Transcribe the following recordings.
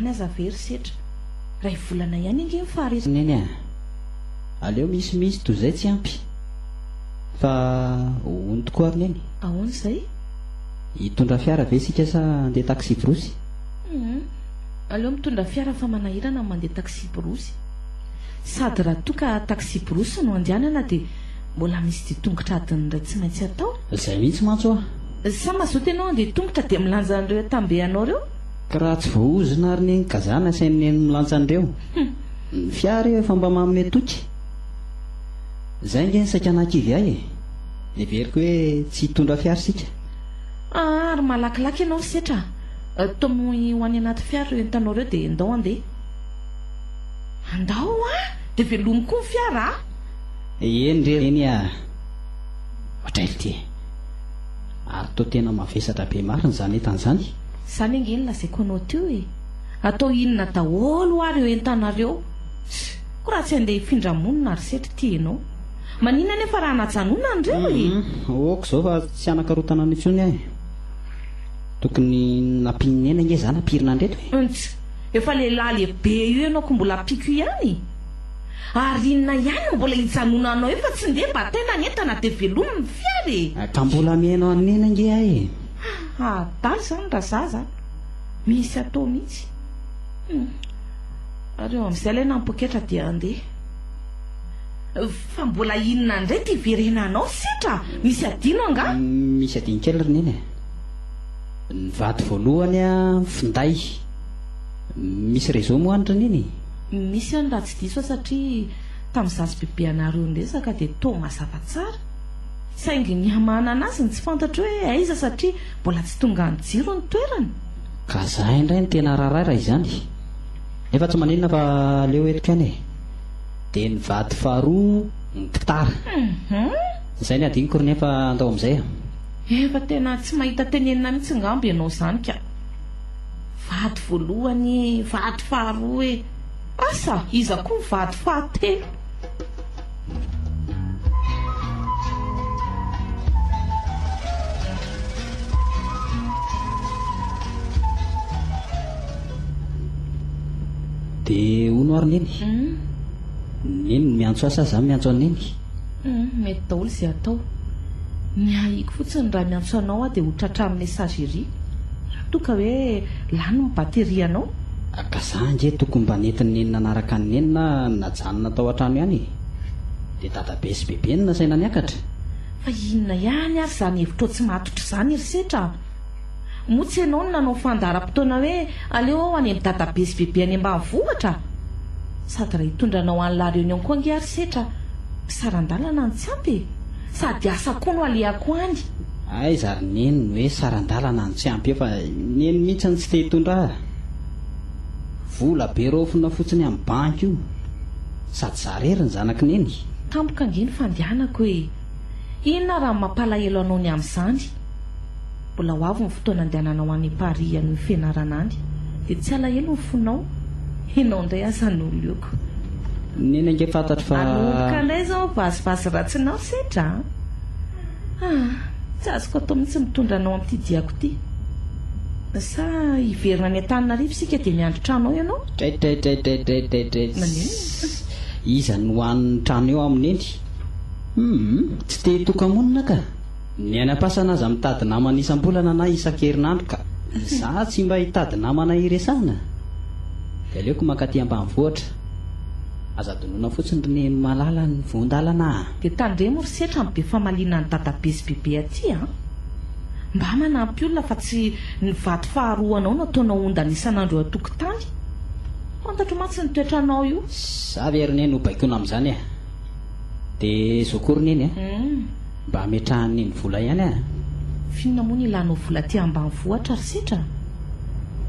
Zany aza very setra. Ray volana ihany ange ny fahare. Neny a! Aleo misy mihitsy toy izay tsy ampy fa hono tokoa ry Neny. Ahoana izay? Hitondra fiara ve isika sa handeha taksiborosy? Humm! Aleo mitondra fiara fa manahirana ny mandeha taksiborosy. Sady raha toa ka taksiborosy no andehanana dia mbola misy dia tongotra adin'ny iray tsy maintsy atao. Izay mihitsy mantsy hoa! Sa mazoto ianao handeha tongotra dia milanja an'ireo atambehanao ireo? Raha tsy voahozona ary neny ka za nasainy neny milantsa an'ireo ny fiara io efa mba manome toky. Zay nge ny saika nahakivy ahy e. Neveriko hoe tsy hitondra fiara isika. Aa ry malakilaky ianao ry setra a! Tomohy ho any anaty fiara ireo entanao ireo dia ndao handeha. Andao a! Dia velomy koa ny fiara a! Eny re neny a! Ohatr'ailty e! Ary toa tena mavesatra be marina izany entana izany. Zany ange ny lazaiko anao teo e! Atao inona daholo ary eo entanareo? Ko raha tsy andeha hifindra monina ary setra ty enao? Maninona anefa raha najanona ny reo e? Ok zao fa tsy hanankarotana anao intsony aho e! Tokony nampian'i Neny ange za nampirina andreto e! Nts! Efa lehilahy lehibe io enao ko mbola ampiko ihany? Ary inona ihany no mbola hijanonanao eo fa tsy ndeha bataina ny entana dia velomy ny fiara e! Ka mbola mihaino an'i Neny ange aho e! Haa adaly zany raha zaza a! Misy atao mihitsy. Hum. Ary eo amin'izay ilay nampoketra dia handeha. Fa mbola inona indray ity hiverenanao setra a! Misy adino angaha? Misy adino kely ry neny a! Ny vady voalohany a, finday. Misy réseau moa any ry neny? Misy any raha tsy diso aho satria tamin'izaho sy bebeanareo niresaka dia toa mazava tsara. Saingy ny hamanana azy no tsy fantatro hoe aiza satria mbola tsy tonga any jiro ny toerana. Ka za indray no tena raharaha raha izany e! Nefa tsy maninona fa aleo eto kani e! Dia ny vady faharoa ny gitara. Izay ny hadinoko ry neny fa andao amin'izay a! Efa tena tsy mahita tenenina mihitsy angamba ianao izany ka! Vady voalohany e! Vady faharoa e! Asa iza koa ny vady fahatelo? dia hono ary neny hmm. neny miantso asa za miantso aneny hmm, mety daholo izay atao ny haiko fotsiny raha miantso anao aho dia ho tratra amin'ny messagerie raha toa ka hoe lany ny batterie anao Ka za ange tokony mba nentin'i Neny nanaraka an'i Neny na najanona tao an-trano ihany e! Dia dadabe sy bebe no nasaina niakatra? Fa inona ihany ary izany hevitrao tsy matotra izany ry setra a! Moa tsy ianao no nanao fandaharam-potoana hoe aleo aho any amin'i dadabe sy bebe any ambanivohitra? Sady raha hitondra anao any La Réunion koa ange aho ry setra a! Saran-dalana no tsy ampy e! Sady asa koa no alehako any! Aiza ry Neny no hoe saran-dalana no tsy ampy eo fa i Neny mihitsy no tsy te hitondra ahy! Vola be raofina fotsiny amin'ny banky io. Sady zara ery ny zanaky neny. Tampoka ange ny fandehanako e! Inona raha ny mampalahelo anao ny amin'izany? Mbola ho avy ny fotoana andehananao any Paris any ho fianarana any dia tsy alahelo ny fonao? Ianao indray aza no oloko. Neny ange fantatro fa. Hanomboka indray izao ny vazivazy ratsinao sedra a! Ah! Tsy azoko atao mihitsy mitondra anao amin'ity diako ity. Sa hiverina any Antananarivo isika dia miandry trano ao ianao? Draidraidraidraidraidraidraidz. Maninona? Iza no hanon'ny trano eo aho Neny? Hum! Tsy te hitoka-monina ka! Ny any am-pasana aza mitady namana isam-bolana na isan-kerinandro ka! Izaho tsy mba hitady namana hiresahana? Dia aleoko mankaty ambanivohitra. Aza adinoina fotsiny ry Neny malala ny voan-dalana a! Dia tandremo ry setra ny be famaliana an'i dadabe sy bebe aty a! Mba manampy olona fa tsy ny vady faharoa anao no ataonao ondana isan'andro eo an-tokotany. Fantatro mantsy ny toetranao io. Za ve ry Neny ho baikoina amin'izany e! De zo kory neny a! Mba ametrahany neny vola ihany a! F'inona moa ny ilanao vola aty ambanivohitra ry setra?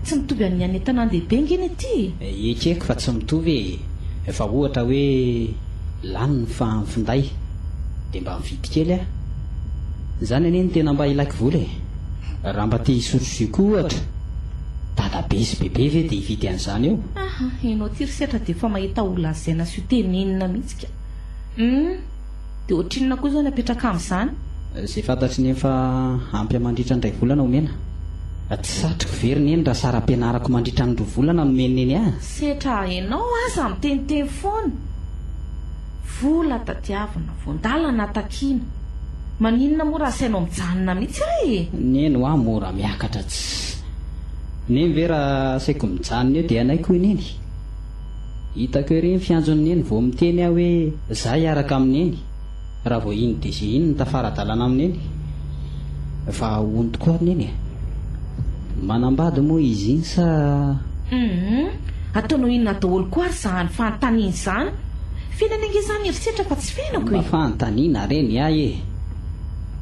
Tsy mitovy amin'ny any an-tanàn-dehibe ange ny aty e! Ekeko fa tsy mitovy e! Efa ohatra hoe lany ny finday dia mba mividy kely a! Izany anie no tena mba ilaiko vola e! Raha mba te hisotro jus koa ohatra, dadabe sy bebe ve dia hividy an'izany eo? Aha, ianao ity ry setra dia efa mahita ho lazaina sy ho tenenina mihitsy. tsika. Humm de ohatrinona koa zany apetraka amzany? Zay fantatry ny eny fa ampy an mandritra ny ray volana omena. Tsy satriko ve ry neny raha saram-pianarako mandritra ny roa volana no omen'i neny ahy? Setra enao aza miteniteny foana. Vola tadiavina, voandalana takiana. Maninona moa raha asainao mijanona mihitsy aho e? Neny hoa mora miakatra tsy. Neny ve raha asaiko mijanona eo dia hanaiky hoy neny? Hitako ery ny fianjon'i Neny vao miteny aho hoe za hiaraka amin'i Neny raha vao iny DG iny no tafara-dalana amin'i Neny fa hono tokoa ry Neny e! Manambady moa izy iny sa? Humm! Ataonao inona daholo koa ary zany fanontaniana izany? Fiainana ange zany herisetra fa tsy fiainako e! Mba fanontaniana re ny ahy e!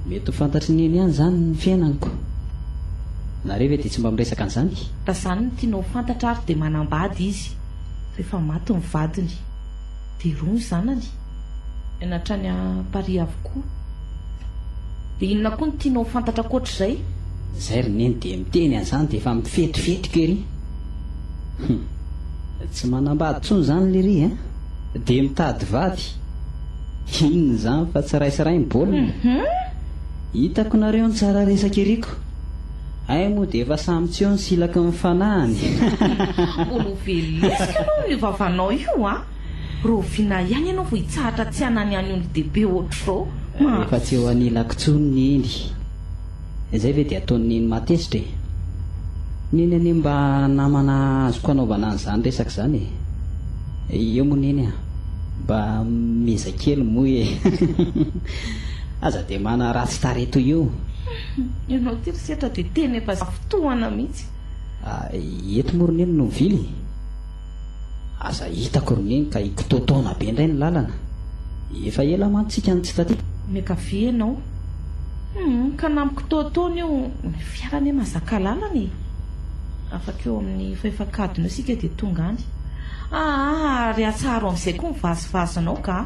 Mety ho fantatr'i Neny ihany izany ny fiainaniko. Nareo ve dia tsy mba miresaka an'izany? Raha zany no tianao ho fantatra ary dia manambady izy, rehefa maty ny vadiny dia roa ny zanany, ny any hatrany à Paris avokoa. Dia inona koa no tianao ho fantatra ankoatr'izay? Zay ry neny dia miteny an'izany dia efa mifetifetika ery. Hum. Tsy manambady tsony zany lery a! Dia mitady vady. Inona izany fa tsy raisy ray ny baolina. Hitako nareo ny tsara resaka ery ko. Hay moa dia efa samy tsy eo ny silaky ny fanahiny. Olovelisika aloha io vavanao io a! Raoviana ihany ianao vao hitsahatra tsy hanany any olon-dehibe ohatr'izao? Efa tsy eo anilako intsony Neny. Izay ve dia ataon'i Neny matezitra e! Neny anie mba namana azoko hanaovana an'izany resaka izany e! Eo moa Neny a! Mba miezaha kely moa e! Aza dia manaratsy tarehy toy io! Humm ianao ity ry setra dia teny efa zafy tohana mihitsy. Ahh eto moa ry neny no mivily e! Aza hitako ry neny ka hikitotoana be indray ny lalana. Efa ela mantsy tsika no tsy taty. Miankavia ianao. Humm ka na mikitoatoana io ny fiara anie mahazaka lalana e! Afaka eo amin'ny fahefankadiny eo isika dia tonga any. Ahh ary atsaharo amin'izay koa ny vazivazinao gah!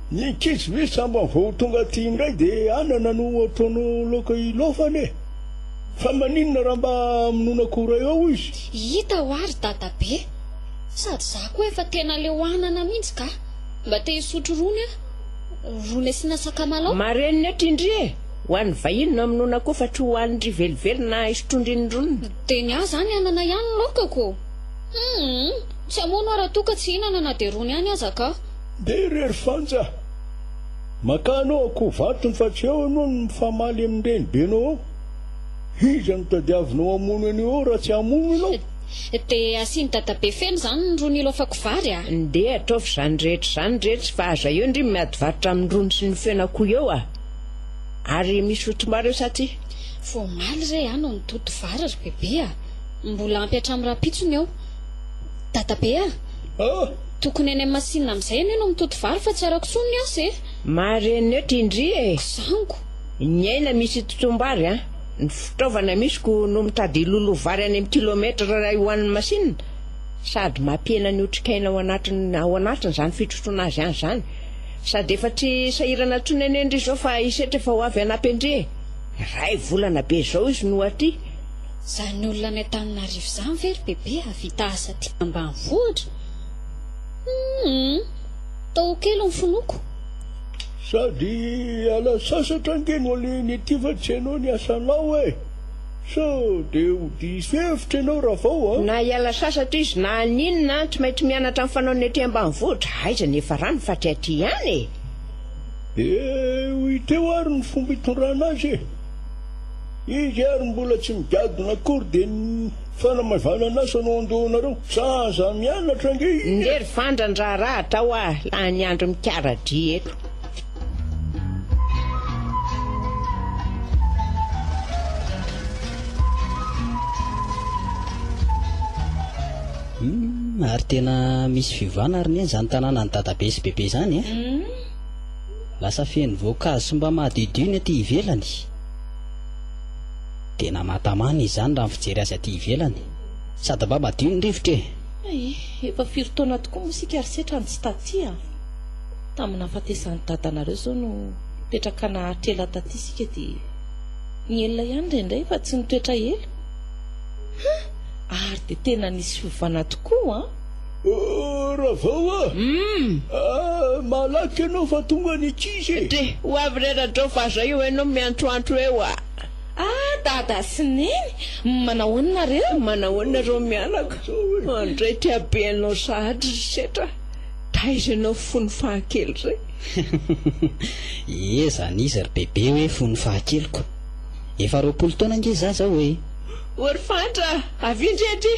Ny ankizy ve sambany vao tonga aty indray de anana no ataonao laoka hilaofana e! Fa maninona raha mba amonoana akoray ao izy? Hita hoa ry dadabe! Sady za koa efa tena leo anana mihintsy ka! Mba te hisotro rony aho! Rony asiana sakamalao? Marenina eto indry e! Ho an'ny vahiny no amonoana akoho fa tsy ho an'ndry velively na hisotroandry ny roniny. De ny ahy zany anana ihany ny laokako! Humm! Tsy hamono aho raha toa ka tsy hihinana na de rony ihany aza ka! Ndeha irery Fanja a! Makà anao akoho vatony fa tsy eo ianao no mifamaly amin'ny renibenao ao. Iza no tadiavinao hamono an'io ao raha tsy hamono ianao? Dia asian'i Dadabe feno izany ny rony ilaofako vary a! Ndeha ataovy izany rehetra izany re tsy fa aza eo ndry miady varotra amin'ny rony sy ny fen'akoho eo a! Ary misy hotomary eo sa tsia? Vao omaly re aho no nitoto vary ry Bebe a! Mbola ampy hatramin'ny rahampitso ny eo. Dadabe a! Tokony any amin'ny masinina amin'izay ianao no mitoto vary fa tsy arako intsony ny asa e! Mareneo ty ndry e! Zango! Ny aina misy itotoam-bary a! Ny fitaovana misiko no mitady hiloloha vary any amin'ny kilometra iray ho an'ny masinina. Sady mampihena ny otrikaina ao anatiny ao anatiny izany fitrotroana azy any izany. Sady efa tsy sahirana intsony anie ndry izao fa hisetra efa ho avy hanampy an-dry e! Iray volana be izao izy no aty. Izany olona any Antananarivo izany ve ry Bebe hahavita asa aty ambanivohitra? Humm! Tao kely ny finoako. Sady hiala sasatra ange no alehany aty fa tsy hainao ny asanao e! Sao dia ho diso hevitra ianao Ravao a! Na hiala sasatra izy na haninona an, tsy maintsy mianatra ny fanaony aty ambanivohitra, aiza ny efa rano fa tsy aty ihany e! Dia ho hita eo ary ny fomba hitondrana azy e! Izy ary mbola tsy migadona akory dia ny fanamavanan'asa no andohanareo? Sa aza mianatra ange izy e! Nge ry Fandra ny raharaha atao a! Lany andro mikaradria eto. Humm ary tena misy fiovana ary neny zany tananan'i dadabe sy bebe zany eh! Lasa feno voankazo sy mba madiodio ny aty ivelany. Dia namatamana izy izany raha ny fijery azy aty ivelany. Sady mba madio ny rivotra e! Ay, efa firy taona tokoa moa isika ry setra no tsy taty a! Tamin'ny nahafatesan'i dadanareo izao no nipetraka naharitra ela taty isika dia nihelina ihany indraindray fa tsy nitoetra ela. Hum! Ary dia tena nisy fiovana tokoa an! Oh, Ravao a! Umm! Ah, malaky ianao fa tonga ny ankizy e! Dry, ho avy re Rajao fa zao io ianao miantroantro eo a! Ah, Dada sy Neny! Manahoana nareo? Manahoana ry mianaka? Andray ty habe anao sahady ry setra! Taiza ianao fony fahakely zay? Ie, zany izy ry bebe hoe fony fahakeliko! Efa roapolo taona ange za zao e! Oh ry Fatra, avia ndry aty!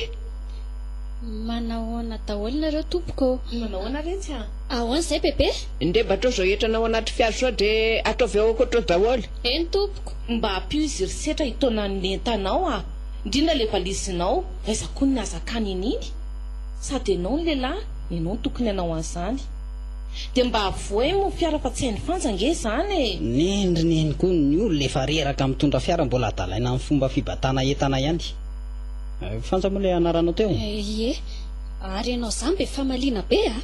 Manahoana daholo nareo tompoko ô. Manao ahoana re tsy a. Ahoana izay bebe? Ndrey mba atraoz ao hetrana ao anaty fiara sao dre ataovy ao akoatrao daholo. Eny tompoko. Mba ampio izy ry setra hitaona ny entanao a! Indrindra ilay valizinao fa aiza koa ny nahazakany an'iny? Sady ianao no lehilahy, ianao no tokony hanao an'izany. Dia mba avohay moa ny fiara fa tsy hain'i Fanja ange izany e! Nendriny eny koa ny olona efa reraka mitondra fiara mbola adalaina amin'ny fomba fibatana entana ihany. Fanja moa ilay anaranao teo? Ie, ary ianao izany be famaliana be a!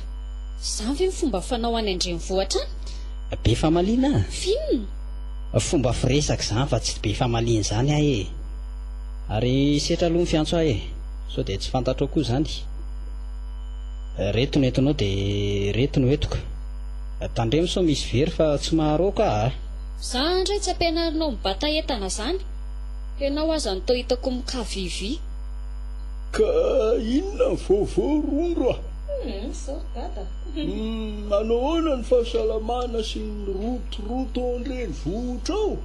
Izany ve ny fomba fanao any an-drenivohitra any? Be famaliana? F'inona? Fomba firesaka izany fa tsy be famaliana izany aho ee! Ary setra aloha ny fiantso ahy ee! Sao dia tsy fantatrao koa izany? Ireto no entonao dia ireto no entiko. Tandremo sao misy very fa tsy maharoa ka a! Za ndray tsy ampianarinao mibata entana zany. Ianao aza ny toa hitako mikavivy. Ka inona ny vaovao rondro a? Humm sorry dada. Humm manao ahoana ny fahasalamana sy ny rotoroto ao an-drenivohitra ao?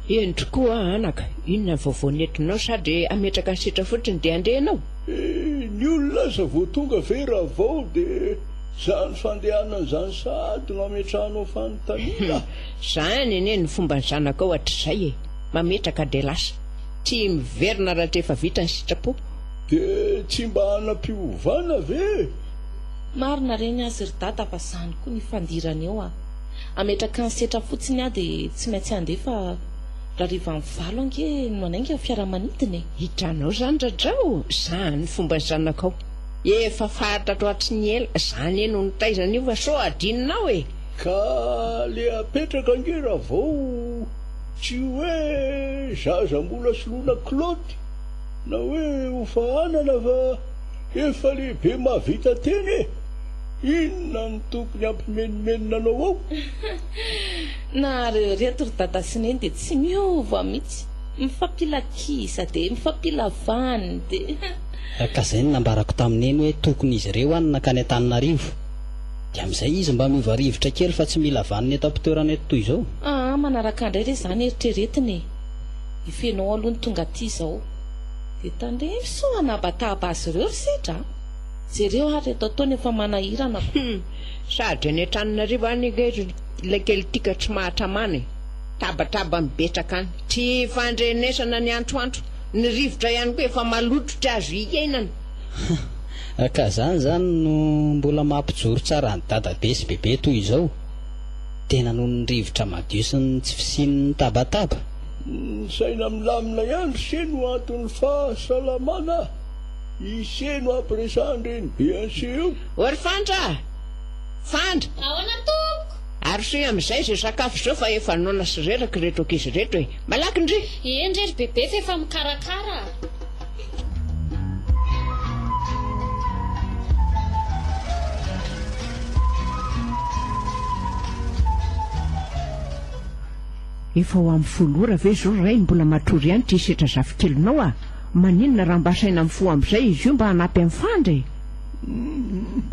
Hendry koa anaka, inona ny vaovao nentinao sa dia hametraka ny setra fotsiny dia handeha ianao? Ny olona aza vao tonga ve raha vao dia izany fandehanana izany sahady no ametrahanao fanontaniana? Humm izany anie ny fomban'ny zanakao hatrizay e. Mametraka dia lasa. Tsy miverina rahatrefa vita ny sitrapo. Dia tsy mba hanampiovana ve? Marina reny azy ry dada fa zany koa ny fandirana eo a! Ametraka ny setra fotsiny aho dia tsy maintsy andeha fa rarivany valo ange no manainga ny fiaramanidina e! Hitranao zany dradrao? Zany ny fomba zanakao. Efa fahatratro hatry ny ela. Za anie no nitaiza an'io fa sao hadinonao e! Ka le apetraka ange raha vao. Tsy hoe zaza mbola soloina klôty na hoe ho fahanana fa efa lehibe mahavita tena e! Inona no tokony hampimenomenona anao ao? Nahareo ireto ry dada sy neny dia tsy miova mihitsy, mifampilakisa dia mifampilavany dia. Ka izay no nambarako tamin'i neny hoe tokony izy ireo any nankany Antananarivo. De amzay izy mba miova rivotra kely fa tsy mila vanona eto ampitoerana eto toy izao. Aa manaraka ndray re zany eritreretina e! I Fénô aloha no tonga aty izao. De tandremo sao hanabatahaba azy ireo ry Sedra a! Jereo ary eto ataony efa manahirana ko. Hum! Sady any Antananarivo any ange ry Lekely ty ka tsy mahatramana e! Tabatraba mibetsaka any, tsy fandrenesana ny antroantro, ny rivotra ihany koa efa maloto tsy azo hiainana. Hum ka zany zany no mbola mampijoro tsara an'i dadabe sy bebe toy izao? Tena noho ny rivotra madio sy ny tsy fisian'ny tabataba? Ny saina milamina ihany ry se no anton'ny fahasalamana i se no ampiresahan'ny renibe an'se eo. O ry Fandra a! Fandra! Ahoana tompoko? Arosoy amin'izay izay sakafo izao fa efa noana sy reraka ireto ankizy ireto e! Malaky ndry! Eny re ry bebe f'efa mikarakara a! Efa ho amin'ny folo ora ve izao Ray mbola matory ihany ity setra zafikelinao a! Maninona raha mba asaina mifoha amin'izay izy io mba hanampy an'i Fandry e! Humm!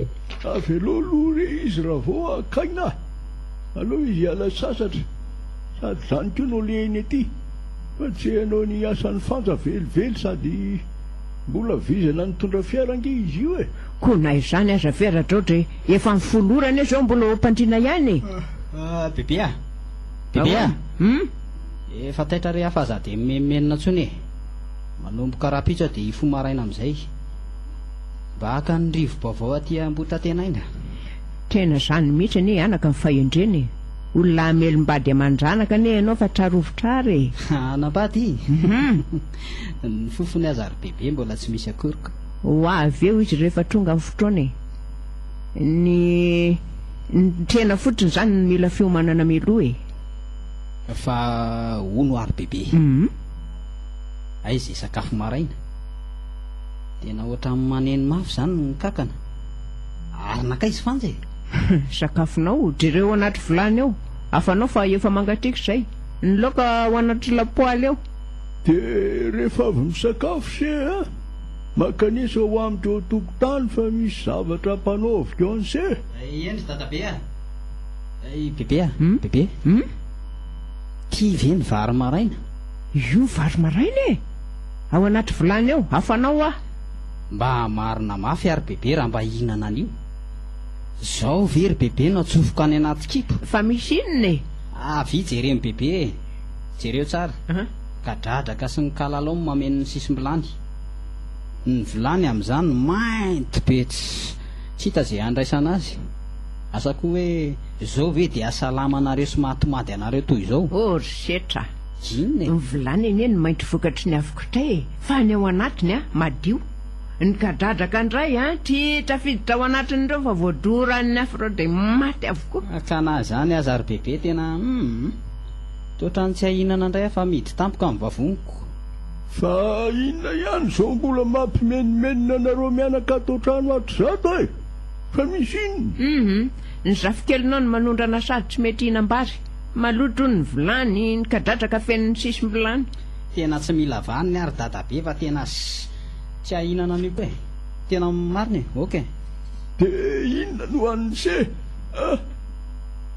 Avelao aloha re izy raha vao hakaina, aleo izy hiala sasatra, sady izany koa no alehany aty. Fa tsy hainao ny asan'ny fanja velively sady mbola vizana nitondra fiara ange izy io e! Koa na izany aza ve Radraotra e! Efa amin'ny folo ora anie izao mbola ao am-pandriana ihany e! Ah! Bebe a! Bebe a! Hum? Efa taitra re aho fa za dia mimenomenona intsony e! Manomboka rahampitso aho dia hifoha maraina amin'izay. Mba haka ny rivo-baovao aty Ambohitatena aina. Tena izany mihitsy anie anaka ny fahendrena e! Olona hamelombady aman-dranaka anie ianao fa trarovitra ary e! Hanambady? Ny fofony aza ary bebe mbola tsy misy akoriko. Ho avy eo izy rehefa tonga ny fotoana e! Ny nitrena fotsiny izany no mila fiomanana mialoha e! Fa hono ary bebe e! Aiza hisakafo maraina? Tena ohatran'ny maneno mafy izany ny kankana! Ary nankaiza Fanja e? Humm, sakafonao, jereo anaty vilany ao, hafanao fa efa mangatsiaka izay, ny laoka ao anaty lapoaly ao. Dia rehefa avy misakafo se a, makanisa ho amin'ny teo an-tokotany fa misy zavatra hampanaoviko an'se. Eny ry dadabe a! Ry bebe a! Bebe! Humm! Tia ve ny vary maraina? Io vary maraina e! Ao anaty vilany ao, hafanao hoa. Mba hamarina mafy ary bebe raha mba hihinana an'io. Zao ve ry bebe no atsofoko any anaty kibo? Fa misy inona e? Avia jereo bebe e! Jereo tsara! Gadradraka sy ny kalalao no mameno ny sisim-bilany. Ny vilany amin'izany mainty be tsy hita ze handraisana azy. Asa koa hoe zao ve dia asalama anareo sy mahatomady anareo toy izao? Oh ry setra! Inona e? Ny vilany anie no mainty vokatry ny afo kitay e! Fa ny ao anatiny an, madio! Nikadradraka indray an! Tsy tafiditra ao anatin'ireo fa voadoran'ny afro dia maty avokoa. Ka na izany aza ry bebe tena humm. Toa otrany tsy ahinana indray aho fa midy tampoka ny vavoniko. Fa inona ihany izao mbola mampimenomenona anareo mianaka ato an-trano hatrizao e! Fa misy inona? Humm. Ny zafikelinao no manondrana sady tsy mety hihinam-bary. Maloto hono ny vilany, nikadradraka feno ny sisim-bilany. Tena tsy mila vaniny ary dadabe fa tena ssy. Tsy ahinana an'io koa e. Tena marina e. Ok. De inona no an'ise a?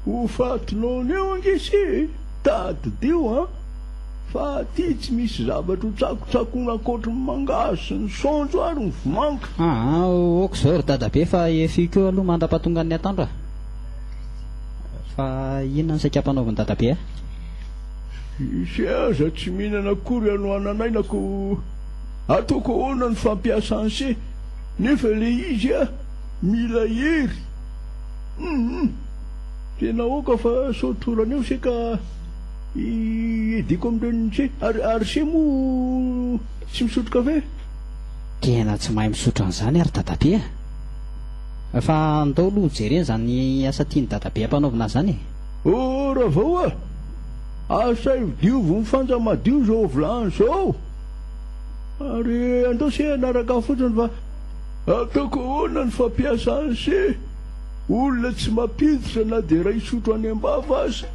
Ho faty nono eo ange ise e! Tadidio an! Fa aty tsy misy zavatra ho tsakotsakoina ankoatry ny mangahazo sy ny saonjo ary ny vomanga. Aa ok izao ry dadabe fa efiiko eo aloha mandra-pahatongan'ny atoandro a! Fa inona ny saika ampanaovin'i dadabe ahy? Ise aza tsy mihinana akory anohananay na ko. Ataoko ahoana ny fampiasany se nefa le izy a mila hery humm tena aoka fa sao torana eo se ka i Eddy ko amin'ireny se ary ary se moa tsy misotro kafe? Tena tsy mahay misotro an'izany ary dadabe a! Fa ndao aloha ho jerena izany asa tian'i dadabe hampanaovina azy izany e! Oh Ravao a! Asaivo diovy ny fanja madio izao vilany izao! Ary andao se hanaraka fotsiny fa ataoko ahoana ny fampiasany se olona tsy mampiditra na dia iray sotro any am-bava aza.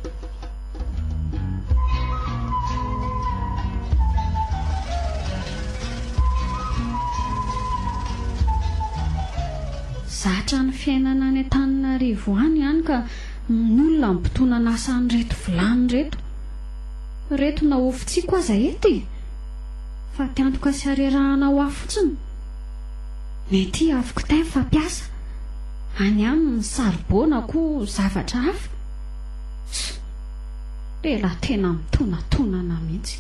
Zatra ny fiainana any Antananarivo any hany ka ny olona mitonan'asa an'ireto vilany ireto. Reto na ho fotsiako aza eto e! Fa te antoka sy arerahana ho ahy fotsiny. Mety avoko tain fa mpiasa any aminy saribô na koa zavatra hafa. Tso! Lehilahy tena mitonatonana mihitsy.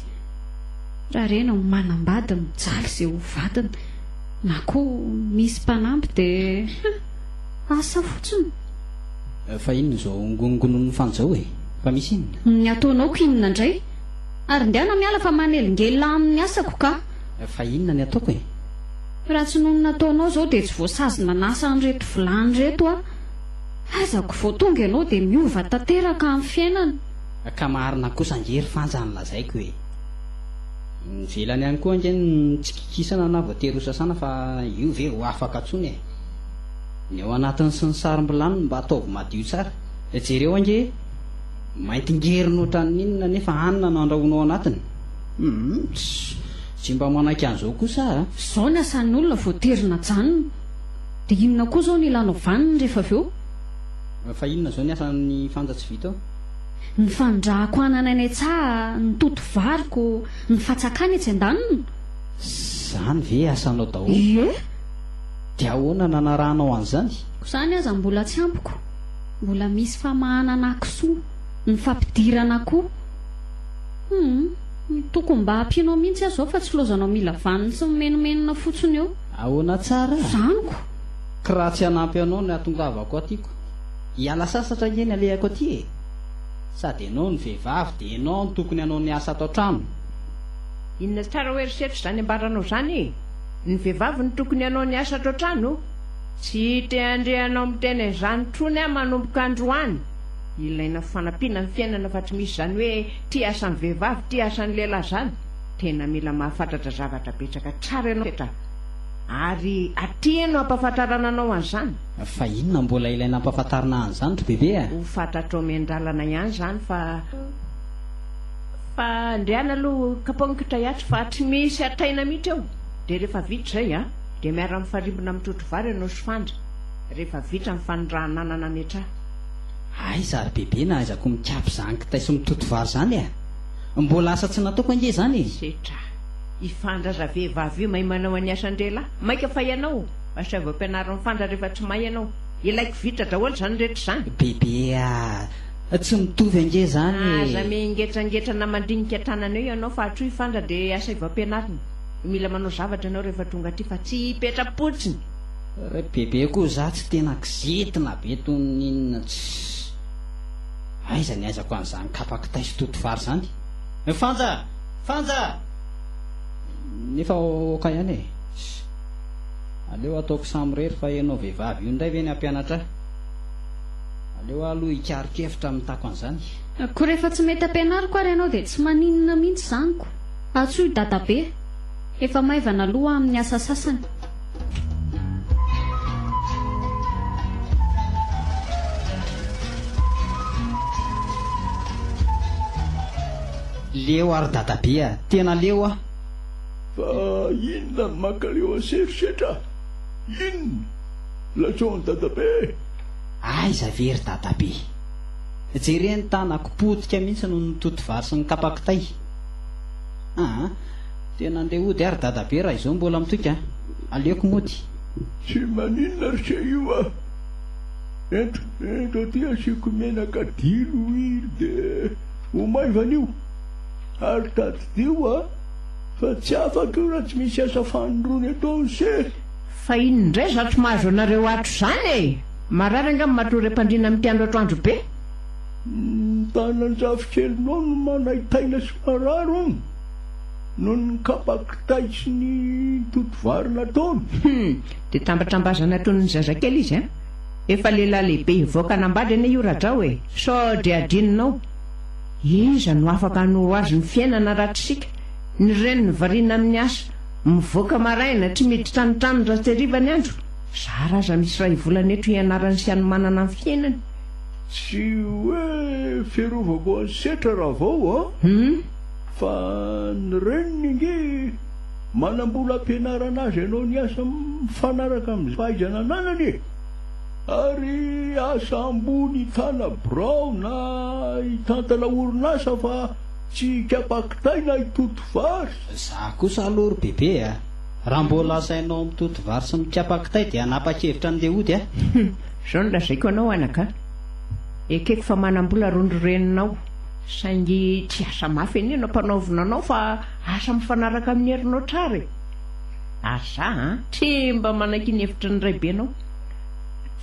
Raha reny no manambady mijaly ze ho vadiny na koa misy mpanamby dia asa fotsiny. Fa inona izao ngonongonon'ny fanjo ao e? Fa misy inona? Ny ataonao ko inona indray? Ary ndehana miala fa manelingelina amin'ny asako ka! Fa inona ny ataoko e? Raha tsy noho ny nataonao izao dia tsy voasazy nanasa an'ireto vilany ireto aho. Aiza ko vao tonga ianao dia miova tanteraka amin'ny fiainana. Ka marina kosa ange ry Fanja ny lazaiko e! Nivelany ihany koa ange ny tsy kikisana na voatery hosasana fa io ve ho afaka intsony e! Ny ao anatiny sy ny sarom-bilaniny mba ataovy madio tsara. Dia jereo ange e! Mainty ngerona ohatran'ny inona nefa hanina no andrahoina ao anatiny. Humm! Tsy mba manaiky an'izao kosa a! Izao ny asan'olona vao tery najanona. Dia inona koa izao no ilanao vaniny rehefa avy eo? Fa inona izao ny asan'ny fanja tsy vita ao? Ny fanondrahako anana eny an-tsaha, ny totovariko, ny fatsakana etsy an-daniny. Izany ve asanao daholo? Ie! Dia ahoana nanarahanao an'izany? Ko izany aza mbola tsy ampy ko mbola misy famahanana kisoa ny fampidirana ko humm tokony mba ampianao mihintsy aho izao fa tsy laozanao mila vaniny sy mimenomenona fotsiny eo Ahoana tsara? izany ko! Ko raha tsy hanampy anao ny hatongavako aty ko hiala sasatra ange ny alehako aty e! Sady ianao no vehivavy dia ianao no tokony hanao ny asa ato an-trano. Inona tsara hoe eritreritro izany ambaranao izany e? Ny vehivavy no tokony hanao ny asa ato an-trano o! Tsy te-handre anao miteny an'izany intsony aho manomboka androany! Ilaina fanampiana ny fiainana fa tsy misy izany hoe ity asan'ny vehivavy ity asan'ny lehilahy izany! Tena mila mahafantratra zavatra betsaka tsara ianao fetra ary aty no hampafantarana anao an'izany! Fa inona mbola ilaina hampafantarina an'izany ry Bebe a! Ho fantatrao miandalana ihany izany fa. Fa ndry an aloha kapaonkitra hiato fa tsy misy hataina mihitsy eo dia rehefa vita izay an dia miara mifarimbona amin'ny trotro vary ianao sy fandry rehefa vita ny fanondrahan'anana ametraha. Hay za ry bebe na aiza ko mikapy izany kitay sy mitoto vary izany eh! Mbola asa tsy nataoko ange izany e! Setra. I Fandry aza vehivavy io mahay manao any asan-drehilahy. Maika fa ianao mba sao voapianarin'i Fandry rehefa tsy mahay ianao. Ilaiko vita daholo izany rehetra izany. Bebe ah! Tsy mitovy ange zany e! Aza miengetrangetrana mandinika tanana eo ianao fa hatreo hifandra dia asaivo ampianarina. Mila manao zavatra ianao rehefa tonga aty fa tsy hipetra-potsiny. Re bebe koa za tsy tena kizitina be toy ny inona tsy aiza ny aizako an'izany kapa kitay sy toto vary zany. Fanja! Fanja! Nefa ok ihany e! Aleo ataoko samirery fa ianao vehivavy io indray ve ny hampianatra ahy? Aleo aho aloha hikaron-kevitra mitaky an'izany. Ko rehefa tsy mety ampianariko ary ianao dia tsy maninona mihitsy izany ko. Antsoy dadabe. Efa maivana aloha amin'ny asa sasany. Leo ary dadabe a! Tena leo aho. Fa inona no makaleo an'setrosetra? Inona? Latsaon'i dadabe. Aiza ve ry dadabe. Jereny tanako potika mihitsy noho ny toty vary sy ny kapa kitay. Aa. Tena andeha hody ary dadabe raha izao mbola mitoika a. Aleoko mody. Tsy maninona ry se io a. Ento ento aty asiako menaka dilo hely dia ho maivana io. Ary tadidio a fa tsy afaka io raha tsy misy asa fanondrony ataon'i se. Fa inona indray zatro mahazo anareo atro zany e! Marary angamba matoa re mpandriana mitiandro atro andro be. Ny tanan-jafikelinao no manaitaina sy marary hono noho ny kapa kitay sy ny toto vary nataony. Hum, dia tambatrambazana toy ny zazakely izy an! Efa lehilahy lehibe hivoaka hanambady anie io Rajao e! Sao dia adinonao? Iza no afaka hanoro azy ny fiainana raha tsy isika? Ny reniny variana amin'ny asa. Mivoaka maraina, tsy miditra ny tranony raha tsy hariva ny andro. Zara aza misy iray volana eto hianarany sy hanomanana ny fiainany. Tsy hoe fiarovako an'i Setra Ravao an! Fa ny reniny ange manambola ampianarana azy hanao ny asa mifanaraka amin'ny fahaizana ananany e! Ary asa ambony tana birao na hitantana orinasa fa tsy hikapa kitay na hitoto vary. Za kosa aloha ry bebe a! Raha mbola asainao mitoto vary sy mikapa kitay dia hanapa-kevitra andeha hody aho. Hum! Zao no lazaiko anao anaka a! Ekeko fa manam-bola ry ndry reninao saingy tsy asa mafy anie no ampanaovina anao fa asa mifanaraka amin'ny herinao tsara e! Ary za a! Tsy mba manaiky ny hevitry ny raibenao.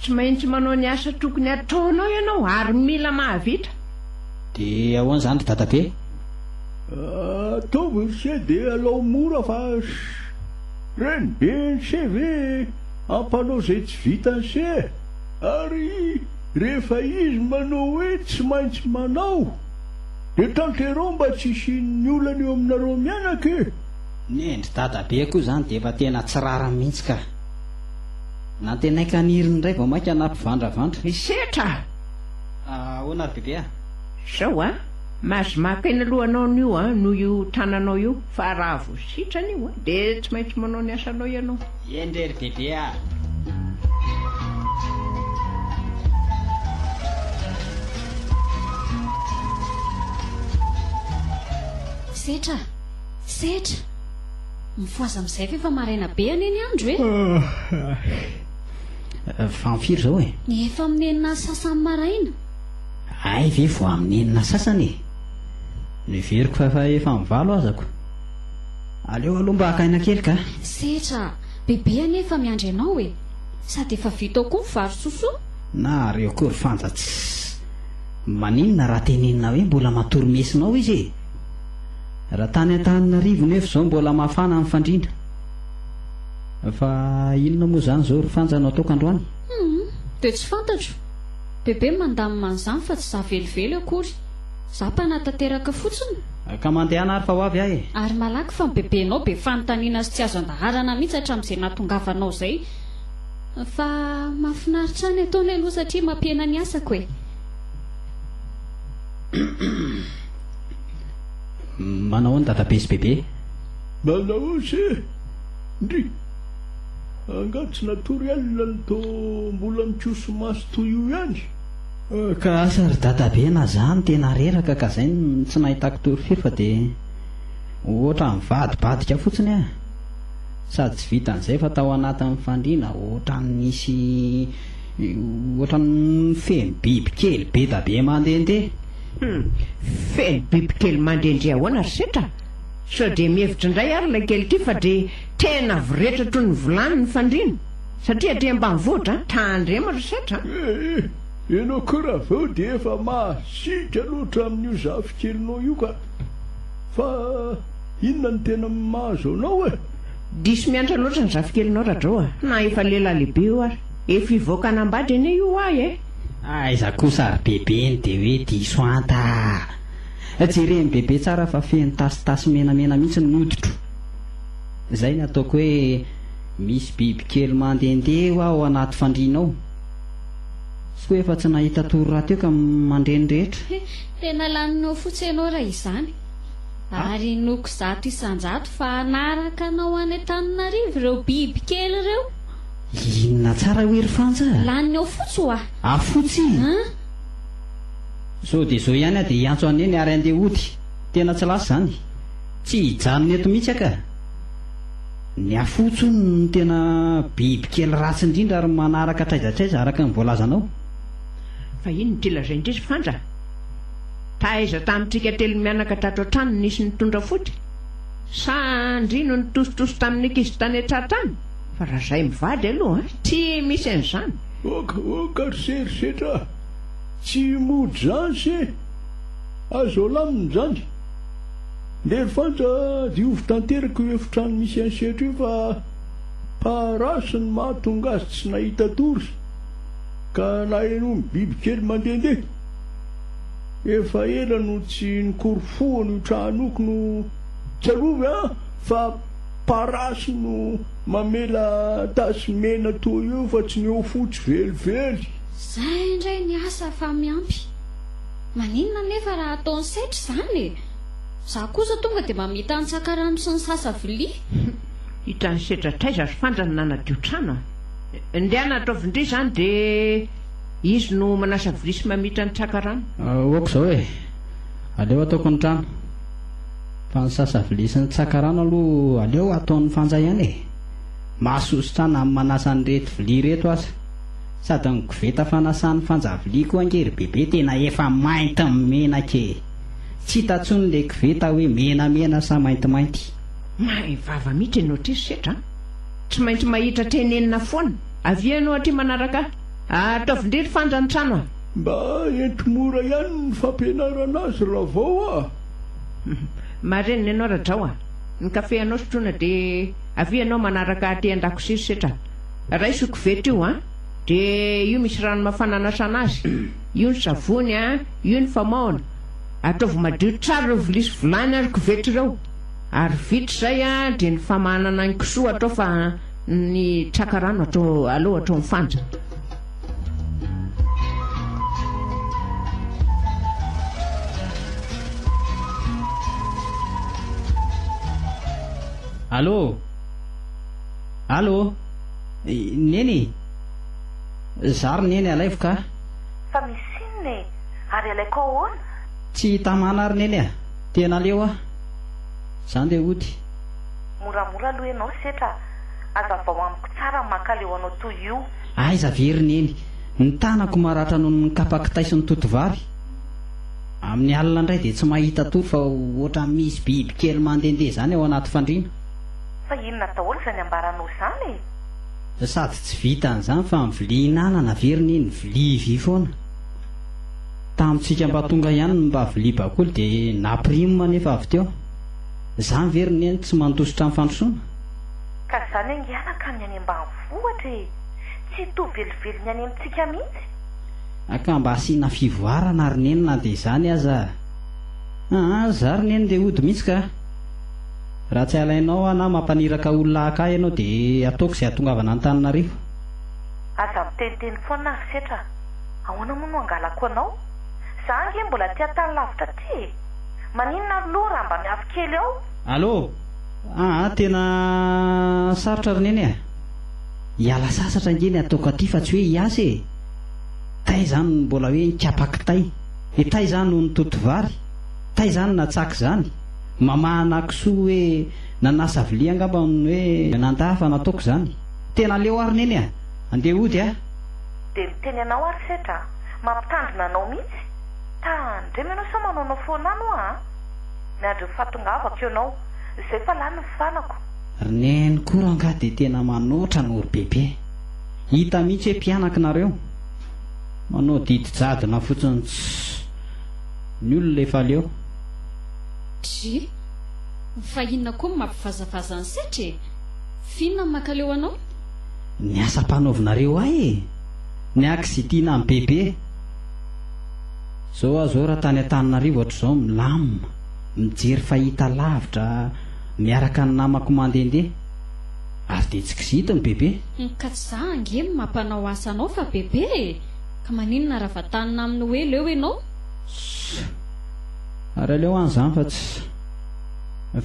Tsy maintsy manao ny asa tokony hataonao ianao ary mila mahavita. Dia ahoana izany ry dadabe? Ataovy ny se dia alao mora fa sh! Reny be ny se ve ampanao izay tsy vitan'ny se e! Ary rehefa izy manao hoe tsy maintsy manao dia tanterao mba tsy hisian'ny olana eo aminareo mianaka e! Nendry dadabe koa izany dia efa tena tsy rariny mihitsy ka! Nantenaiko haniriny indray vao mainka nampivandravandra. Misetra! Ahoana ry bebe a? Izao a! Mahazo maka eny lohanao ny io an, noho io tananao io, fa raha vao sitrana io an, dia tsy maintsy manao ny asanao ianao. Eny re ry bebe ah. Setra ah, setra. Mifohaza amin'izay ve fa maraina be anie ny andro eh. Efa amin'ny firy izao eh? Efa amin'ny enina sy sasany maraina. Hay ve vao amin'ny enina sasany e! Noheveriko fa efa efa amin'ny valo azako. Aleo aloha mba haka aina kely kah! Setra, bebe anie efa miandry anao e! Sady efa vita ao koa ny vary sosoa. Na ary eo koa ry Fanja tss! Maninona raha tenenina hoe mbola matory mesona ao izy e! Raha tany Antananarivo nefa izao mbola mafana ny fandriana. Fa inona moa izany izao ry Fanja no ataoko androany? Humm, dia tsy fantatro. Bebe mandamina an'izany fa tsy za velively akory. Za mpanatanteraka fotsiny. Ka mandehana ary fa ho avy aho e. Ary malaky fa ny bebenao be fanontaniana sy tsy azo andaharana mihitsy hatramin'izay nahatongavanao izay. Fa mahafinaritra ahy ny ataony aloha satria mampihena ny asako e. Manao ahoana Dadabe sy Bebe? Manao ahoana ndry? Angaha tsy natory alina ny to mbola mikoso maso toy io ihany? Ka asa ry dadabe na za no tena reraka ka zay no tsy nahitako tory firy fa dia ohatran'ny mivadibadika fotsiny aho sady tsy vitan'izay fa tao anatin'ny fandriana ohatran'ny nisy ohatran'ny feno bibikely bedabe mandendeha. Hum, feno bibikely mandrendre ahoana ry setra? Sao dé mihevitra indray ary ilay kely ity fa dé tena avy retra toy ny vilany ny fandriana? Satria aty ambanivohitra an, tandremo ry setra an! Eh eh! Ianao koa Ravao dia efa masiaka loatra amin'io zafikelinao io ka! Fa inona no tena mahazo anao e? Diso miantra loatra ny zafikelinao Radrao a! Na efa lehilahy lehibe io ary efa hivoaka hanambady anie io ho'ahy e! Aiza kosa ry bebe ny dia hoe diso anta a! Jereny bebe tsara fa feno tasitasy menamena mihitsy ny hoditro. Izay ny ataoko hoe misy bibikely mandehandeha hoa ao anaty fandriana ao. Tsy koa efa tsy nahita tory rahateo ka mandre ny rehetra. He, tena laninao fotsy ianao raha izany. Ary inoako zato isan-jato fa hanaraka anao any Antananarivo ireo bibikely ireo. Inona tsara hoy ry Fanja? Laninao fotsy hoa. Afotsy? An? Zao dia zao ihany aho dia hiantso an'i Neny ary handeha hody. Tena tsy lasa izany. Tsy hijanona eto mihitsy aho ka. Ny afots hono no tena biby kely ratsy indrindra ary manaraka hatraiza hatraiza araka ny voalazanao. Fa inn ity lazain-dry ry Fanja? Taiza tamintsika telo mianaka tato an-trano no nisy nitondra fody? Sa ndry no nitositosy tamin'ny ankizy tany an-tsaha tany? Fa raha izay mivady aloha tsy misy an'izany. Oka oka ry se ry setra a! Tsy modransy e! Azo alamina izany. Ndery Fanja, diovy tanteraka io efitrano misy an'i Setry io fa parasy no mahatonga azy tsy nahita tory ka nahenoany bibikely mandehandeha. Efa ela no tsy nikorofohana io tranoko no tsarovy an! fa parasy no mamela tasy mena toa io fa tsy ny eo fotsy velively. Zay indray ny asa fa miampy. Maninona anefa raha ataony setra izany e? Za kosa tonga dia mamita antsaka rano sy ny sasa vilia. Hitan'ny setra traiza ry fanja no nanadio trano a! Ndehana ataovin-dry izany dia izy no manasa vilia sy mamita antsaka rano. Ok izao e! Aleo ataoko ny trano. Fa ny sasa vilia sy ny tsaka rano aloha aleo ataon'ny fanja ihany e! Mahasoa sitrana amin'ny manasa an'ireto vilia ireto aza. Sady ny koveta fanasan'ny fanjavilia koa ange ry bebe tena efa mainty amin'ny menaka e! Tsy hita intsony ilay koveta hoe menamena sa maintimainty. Mahay vava mihitsy ianao aty ry setra an! Tsy maintsy mahita tenenina foana! Avia ianao aty manaraka ahy! Ataovin-dry ry Fanja ny trano an! Mba ento mora ihany ny fampianarana azy raha vao a! Marenina ianao Radrao a! Ny kafe anao sotroina dia avia ianao manaraka ahy aty an-dakozia ry setra! Raiso koveta io an! De io misy rano mafana anasana azy, io ny savony an! io ny famaohana! Ataovy madio tsara ireo vilia sy vilany ary koveta ireo! Ary vita izay an! de ny famahanana ny kisoa atao fa ny traka rano atao alou atao ny fanja! Allo! Allô! Neny! Za ry Neny alaivo ka! Fa misy inona e! Ary alaiko ahoana? Tsy tamana ry Neny a! Tena leo aho! Za ndeha hody! Moramora aloha ianao setra a! Azavao amiko tsara ny mankaleo anao toy io! Aiza ve ry Neny! Ny tanako maratra noho ny kapa kitay sy ny totovavy! Amin'ny alina indray dia tsy mahita tory fa ohatran'ny misy bibikely mandehandeha izany ao anaty fandriana! Fa inona daholo izany ambaranao izany e? Sady tsy vitan izany fa ny vilia hinanana averina iny vilia vy foana. Tamintsika mba tonga ihany ny mba vilia bakoly dia naprimo anefa avy teo. Izany ve ry neny tsy mandositra ny fandrosoana? Ka izany angiana ka ny any ambanivohitra e! Tsy hitohy velively ny any amintsika mihitsy. Ka mba asiana fivoarana ry neny na dia izany aza a! Aa za ry neny ndeha hody mihitsy ka a! Raha tsy alainao aho na mampaniraka olona haka ahy ianao dia ataoko izay hahatongavana Antananarivo. Aza miteniteny foana ry setra a! Ahoana moa no hangalako anao? Za ange mbola aty an-tany lavitra aty e! Maninona ary loha raha mba miafy kely ao? Allo! Aa tena sarotra ry Neny a! Hiala sasatra ange ny ataoko aty fa tsy hoe hiasa e! Taiza any no mbola hoe nikapa kitay? Dia taiza any no nitoto vary? Taiza any natsaky izany? Mamaha anà kisoa hoe nanasa vilia angamba ny hoe nandà fa nataoko izany. Tena aleo ary neny a! Andeha hody a! Dia miteny anao ary setra a! Mampitandrina anao mihitsy! Tandremo ianao sao manaonao foana an oa a! Miandry ny fahatongavako eo nao! Izay fa lany ny fanako! Ry neny koa rangaha dia tena manoatra anao ry bebe! Hita mihitsy hoe mpianaka nareo! Manao didy jadona fotsiny tss! Ny olona efa leo! Dry, fa inona koa no mampivazavaza an'i Setra e? F'inona no mankaleo anao? Ny asa ampanaovinareo ahy e! Ny ahy kizitina an'i Bebe. Zao aho zao raha tany Antananarivo hatrizao milamina, mijery fahita lavitra miaraka ny namako mandehandeha. Ary dia tsy kizitin'i Bebe. Humm ka tsy za ange no mampanao asa anao fa Bebe e! Ka maninona raha vantanina aminy hoe leo ianao? Ssss. Ary aleo any zany fa tsy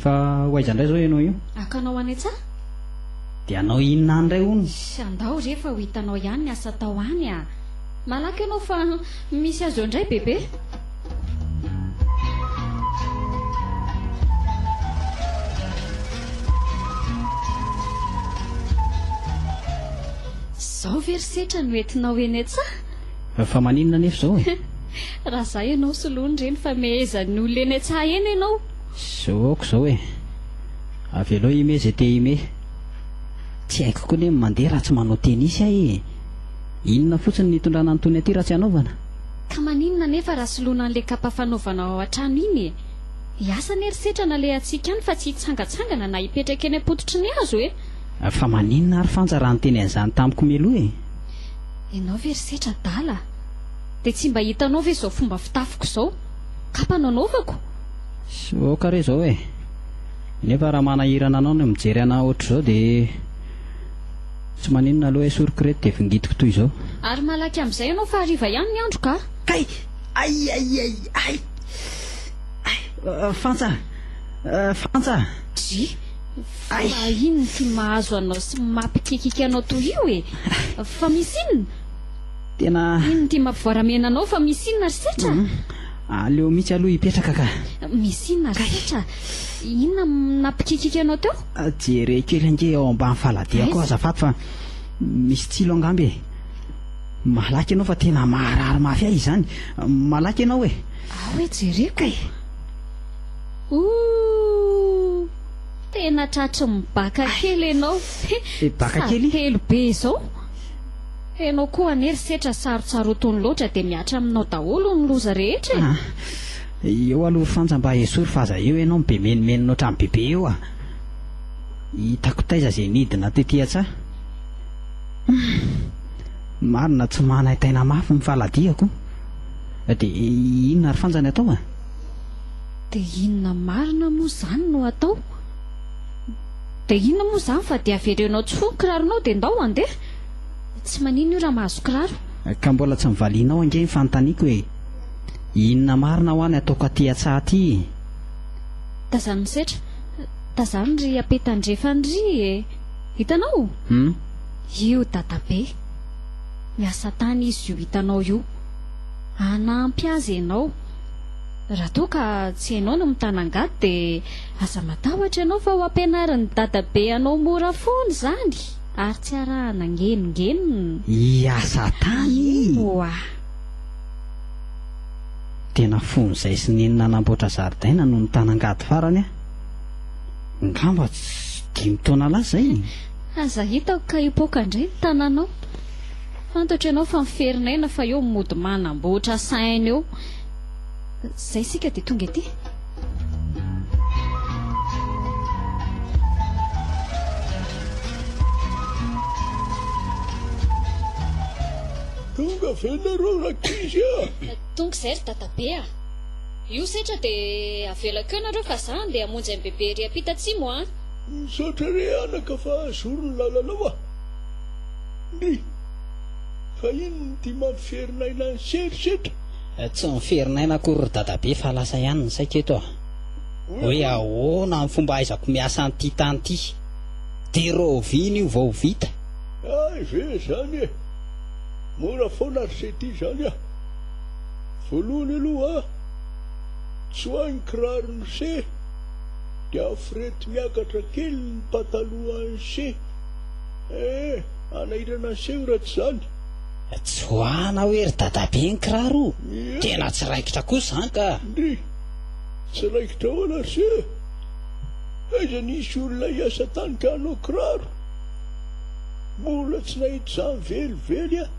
Fa ho aiza indray zao ianao io? Akanao any an-tsaha? Dia hanao inona any indray hono? Sy andao re fa ho hitanao ihany ny asa atao any a! Malaky ianao fa misy azy eo indray bebe! Izao ve ry setra no entinao eny an-tsaha? Fa maninona anefa izao e? Raha za ianao soloany re nifamehezan'ny olona eny an-tsaha eny ianao. Zao aoka izao e. Avelao himehy izay te himehy. Tsy haiko koa anie ny mandeha raha tsy manao tennis ahy e. Inona fotsiny no hitondrana an'itony aty raha tsy hanaovana? Ka maninona anefa raha soloana an'ilay kapa fanaovanao ao an-trano iny e? Hiasa anie ry setra nalehantsika any fa tsy hitsangantsangana na hipetraka eny am-pototry ny hazo e! Fa maninona ary Fanja raha niteny an'izany tamiko mialoha e? Ianao ve ry setra adala a! Dia tsy mba hitanao ve izao fomba fitafiko izao? Kapa no anaovako! Sy aoka re izao e! Nefa raha manahirana anao ny mijery anà ohatr'izao dia tsy maninona aloha e! Soroko ireto dia vingitiko toy izao. Ary malaky amin'izay ianao fa hariva ihany ny andro ka! Kay! Ay! Ay! Ay! Ay! Ay! Fantsa a! Fantsa a! Dry! Fa inona ty mahazo anao sy mapikiakiaka anao toy io e? Fa misy inona? Tena. Inona ty mampivoaramena anao fa misy inona ry Setra? Aleo mitsy aloha hipetraka ka. Misy inona ry Setra? Inona napikiakiaka anao teo? Jereo kely ange ao ambany faladiako ao azafady fa misy tsilo angamba e. Malaky ianao fa tena maharary mafy ahy izany. Malaky ianao e. Ao e jereko e. Ooh! Tena tratry ny baka kely enao Be baka kely. Sady telo be izao. Enao koa anie ry setra sarotsarotiny loatra dia mihatra aminao daholo ny loza rehetra e. Eo aloha ry Fanja mba esory fa aza eo enao mibe menomenona otrany bebe eo a! Hitako taiza ze nidina tety atsa. Humm! Marina tsy manaintaina mafy ny faladiako. Dia inona ry Fanja ny atao a? Dia inona marina moa izany no hatao? Dia inona moa izany fa dia averenao tsy fo ny kiraronao dia ndao handeha? Tsy maninona io raha mahazo kiraro. Ka mbola tsy nivalianao ange ny fanontaniako e! Inona marina hoa ny hataoko aty an-tsaha aty e! Tazano ny setra. Tazano ry Ape Tandrefana ry e! Hitanao? Hum? Io Dadabe. Miasa tany izy io hitanao io. Hanampy azy ianao. Raha toa ka tsy ianao no mitana angady dia aza matahotra ianao fa ho ampianarin'ny dadabe anao mora foana izany ary tsy arahana ngenongenona. Hiasa tany i. Oa. Tena fon'izay sy neny nanamboatra zaridaina no nitana angady farany aho. Ngamba dimy taona lasa izay e. Aza hitako ka hipoaka indray ny tananao. Fantatro ianao fa miferin'aina fa eo mody manamboatra saina eo. Zay sika dia tonga ety. Tonga ve nareo rankizy a? Tonga izay ry dadabe a! Io setra dia avelako eo nareo fa za andeha hamonjy an'i bebe ery ampita atsimo a! Misaotra re anaka fa zoro ny lalanao a! Ny, fa inona ity mampiferin'aina an'i Serge eto? Tsy miferin'aina akory ry dadabe fa lasa ihany ny saiko eto a! Hoe ahoana ny fomba ahaizako miasa an'ity tany ity? Dia rahoviana io vao ho vita? Hay ve izany e! Mora foana ry Seti izany a! Voalohany aloha, tsoahy ny kiraron'i Se, dia afirety miakatra kely ny patalohan'i Se. Eh! Alaina naseho raha tsy izany. Joana hoe ry dadabe ny kiraro o! Tena tsy raikitra kosa izany ka! Ndry! Tsy raikitra ahoana ry se? Aiza nisy olona hiasa tany ka hanao kiraro? Mbola tsy nahita izany velively aho!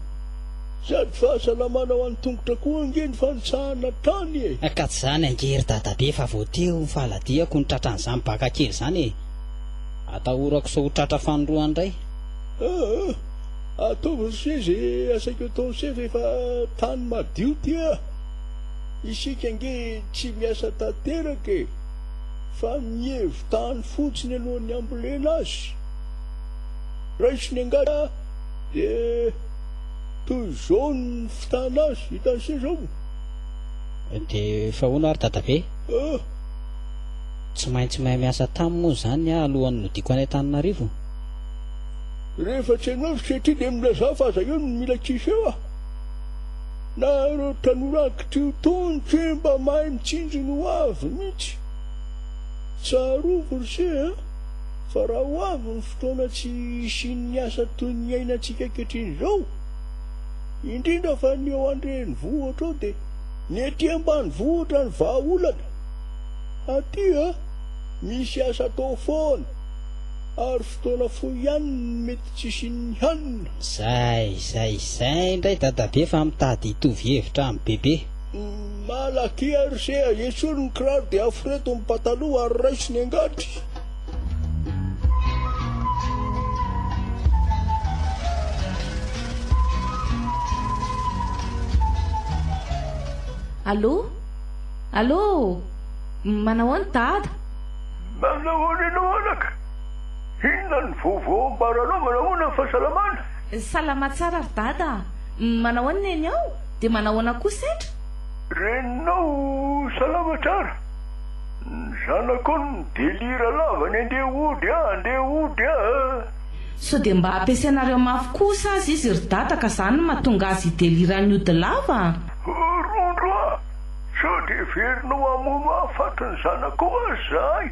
Sady fahasalamana ho an'ny tongotra koa ange ny fanitsahana hatrany e! Ka tsy izany ange ry dadabe fa vao teo ny fahaladihako no tratran'izany baka kely izany e! Atahorako sao ho tratra fanorohany indray. Aah! Ataovy ny soe ze asaiko atao ny soe refa tany madio ty ah! Isika ange tsy miasa tanteraka e! Fa mievo tany fotsiny alohan'ny hambolena azy! Raiso ny angady ah! De toy zao ny fitana azy, hitan'i se zao? De fa hono ary dadabe? Aah! Tsy maintsy mahay miasa tam moa zany ah alohan'ny nodiako any Antananarivo. Rehefa tsy anao satria dia milazao fa aza eo no mila tsisy eo ah. Na ireo tanora ankitrio tony tsy hoe mba mahay mitsinjo ny ho avy mihitsy. Tsarovy ry se a, fa raha ho avy ny fotoana tsy hisian'ny asa toy ny iainantsika ankehitriny izao. Indrindra fa ny eo an-drenivohitra eo dia ny ety ambanivohitra ny vahaolana. Aty a! Misy asa atao foana, ary fotoana fohy ihany no mety tsy hisian'ny hanina. Zay, zay, zay indray dadabe fa mitady hitovy hevitra amin'i bebe. Malaky a ry se a! Esory ny kiraro dia aforeto ny pataloha ary raiso ny angady. Allo! Allo! Manao ahoana dada? Manao ahoana ianao anaka? Inona ny vaovao ambaranao? Manao ahoana ny fahasalamana? Salama tsara ry dada a! Manao ahoana eny ao? Dia manao ahoana koa sendra? Reninao salama tsara? Ny zanakao no mi-delira lava ny andeha hody a! Andeha hody a! Sao dia mba ampiasainareo mafy kosa aza izy ry dada ka zany no mahatonga azy hi-delire an'i ody lava a! Rondro a! Sao dia heverinao hamono hafaty ny zanako hoa zahay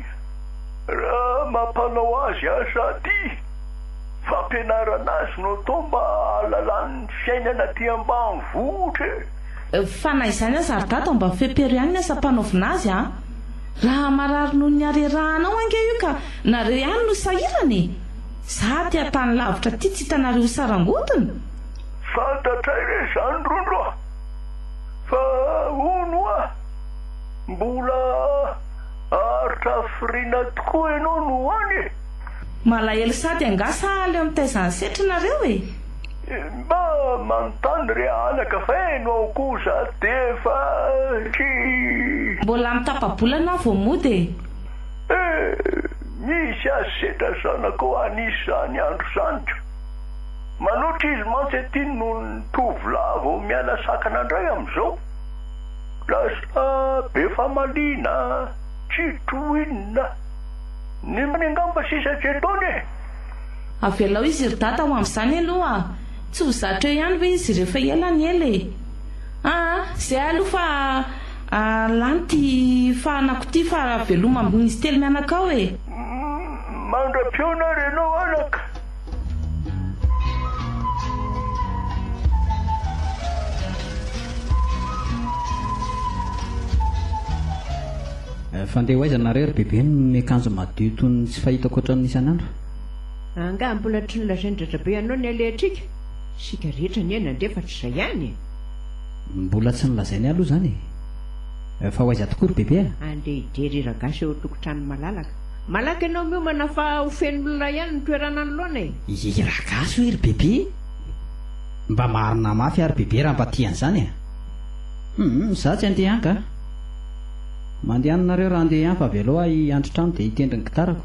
raha mampanao azy aza aty? Fampianarana azy no atao mba hahalalany ny fiainana aty ambanivohitra e! Fa na izany aza ry dada mba fepero ihany ny asam-panaovina azy a! Raha marary noho ny harerahanao ange io ka nareo ihany no sahirana e! Za aty an-tany lavitra aty tsy hitanareo ho sarangotiny? Fantatray ve izany Rondro a! Fa hono hoa mbola haharitra hafiriana tokoa ianao no ho any e! Malahelo sady angaha sahala eo mitaiza ny setrinareo e! Mba manontany re anaka feno aho kosa defa try. Mbola am tapabolana aho vao mody e. Eh misy asetra zanakao an'izany andro zany ka. Manoatra izy mantsy aty noho ny tovolahy vao miala sakana ndray amzao. Lasa be famaliana tsy trohinina ny mpanengampa sisa tsy etoana e. Avelao izy ry dada ho amin'izany aloha a! Tsy ho zatra eo ihany ve izy ireo fa ela ny ela e! Aa zay aloha fa lany ity fahanako ity fa veloma amin'izy telo mianaka ao e! Mandra-peo nareo ianao anaka! Fa ndeha ho aiza nareo ry bebe miakanjo madio toy ny tsy fahitako ohatran'ny isan'andro? Angaha mbola tsy nolazain-dRadrabe hanao ny alehantsika? Isika rehetra anie nandre fa tsy izay ihany e! Mbola tsy nolazainy aloha izany e! Fa ho aiza tokoa ry Bebe a? Andeha hijery hiragasy eo an-tokotranon'i Malalaka. Malaky ianao miomana fa ho feno olona ihany ny toerana anoloana e! Hiragasy hoe ry Bebe? Mba marina mafy ary Bebe raha mba tia an'izany a! Hum, izaho tsy handeha angaha? Mandeha any nareo raha handeha any fa avelao ahy hiandry trano dia hitendry ny gitarako.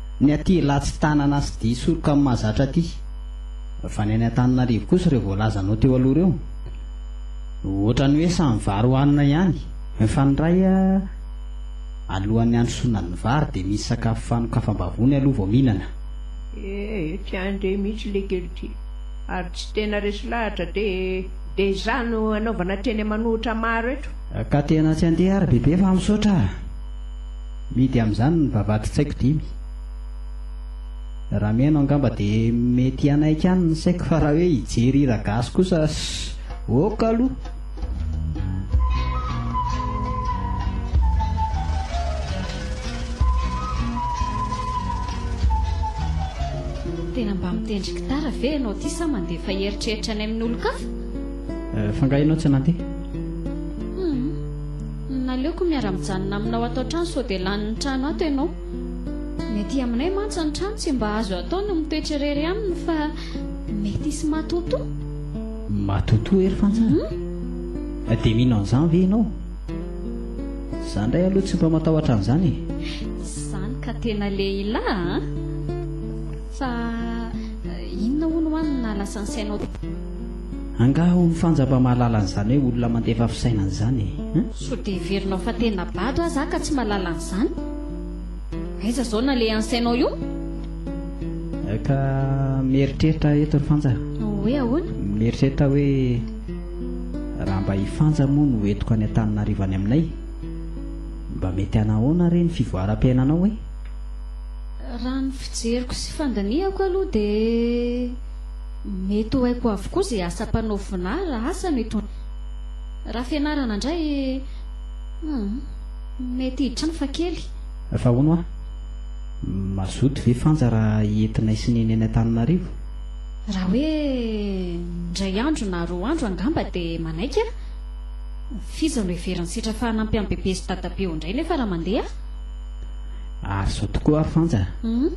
Ny aty Ilatsy tanana sy dihy soroka amin'ny mahazatra aty. Fa ny any Antananarivo kosa ireo voalazanao teo aloha ireo no ohatran'ny hoe samy vary hohanina ihany. Mifandray alohan'ny handrosoana ny vary dia misy sakafo fanokafam-bavony aloha vao mihinana. Ee, tsy any indray mihitsy le kely ty. Ary tsy tena resy lahatra dia dia izaho no anaovana teny aman'ohitra maro eto. Ka tena tsy andeha ary bebe fa misaotra a! Mihidy amin'izany ny vavahadin-tsaiko dimy. Raha mihaino angamba dia mety hanaiky ihany ny saiko fa raha hoe hijery hira gasy kosa ok aloha. Tena mba mitendry gitara ve ianao ity sa mandefa eritreritra any amin'olon-kafa? Fa nga ianao tsy nandeha? Naleoko miara mijanona aminao ato an-trano sao dia lanin'ny trano ato ianao. Ny aty aminay mantsy ny trano tsy mba azo atao ny mitoetra irery aminy fa mety hisy matotoa. Matotoa ery fantsana? Hum. Dia mino an'izany ve ianao? Izaho indray aloha tsy mba matahotra an'izany e. Izany ka tena lehilahy a! Fa inona hono ho'a no naha lasa ny sainao? Angaha ho mifanja mba mahalala an'izany hoe olona mandefa fisainana izany e? Sao dia heverinao fa tena bado aza aho ka tsy mahalala an'izany? Aiza izao nalehan'sainao io? Ka mieritreritra eto ry Fanja a! Hoe ahoana? Mieritreritra aho hoe raha mba i Fanja moa no entiko any Antananarivo any aminay, mba mety hanahoana re ny fivoaram-piainanao e? Raha ny fijeriko sy fandinihako aloha dia. Mety ho haiko avokoa izay asa mpanaovinà raha asa no itondrana. Raha fianarana indray, humm, mety hiditra ihany fa kely. Fa hono hoa, mazoto ve Fanja raha entinay sy Neny any Antananarivo? Raha hoe indray andro na roa andro angamba dia manaiky aho. F'iza no heverin'i Setra fa hanampy an'i Bebe sy Dadabe ho indray nefa raha mandeha aho? Ary izao tokoa ary Fanja a! Humm.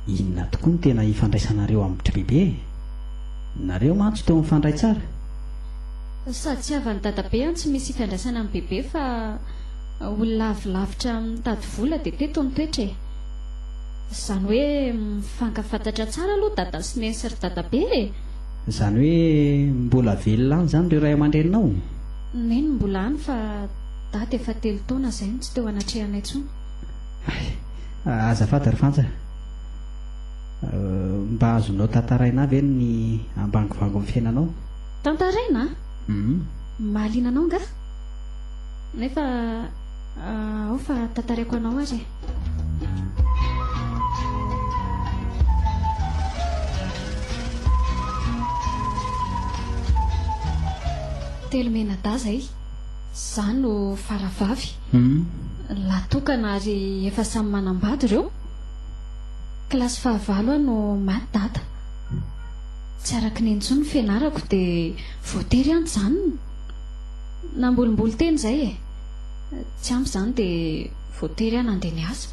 Inona tokoa no tena ifandraisanareo amin'ny btry bebe e? Nareo mantsy toa mifandray tsara? Sady tsy havan'i dadabe an tsy misy ifandraisana amin'ny bebe fa olona avy lavitra mitady vola dia teto ny toetra e! Izany hoe mifankafantatra tsara aloha dada sy neny sy ry dadabe e! Izany hoe mbola velona any izany ireo ray aman-dreninao? Neny mbola any fa dada efa telo taona izay no tsy teo anatrehanay intsony. Hay, azafady ry Fanja a! Mba azonao tantaraina ahy ve ny ambangovangon'ny fiainanao? Tantaraina? Hum. Mahaliana anao angaha? Nefa ao fa tantaraiko anao ary e! Telo menadaza e! Za no faravavy. Lahy tokana ary efa samy manambady ireo. Kilasy fahavalo aho no maty dada. Tsy araka ny intsony ny fianarako dia voatery aho nijanona. Nambolimboly teny izay e. Tsy ampy izany dia voatery aho nandeha niasa.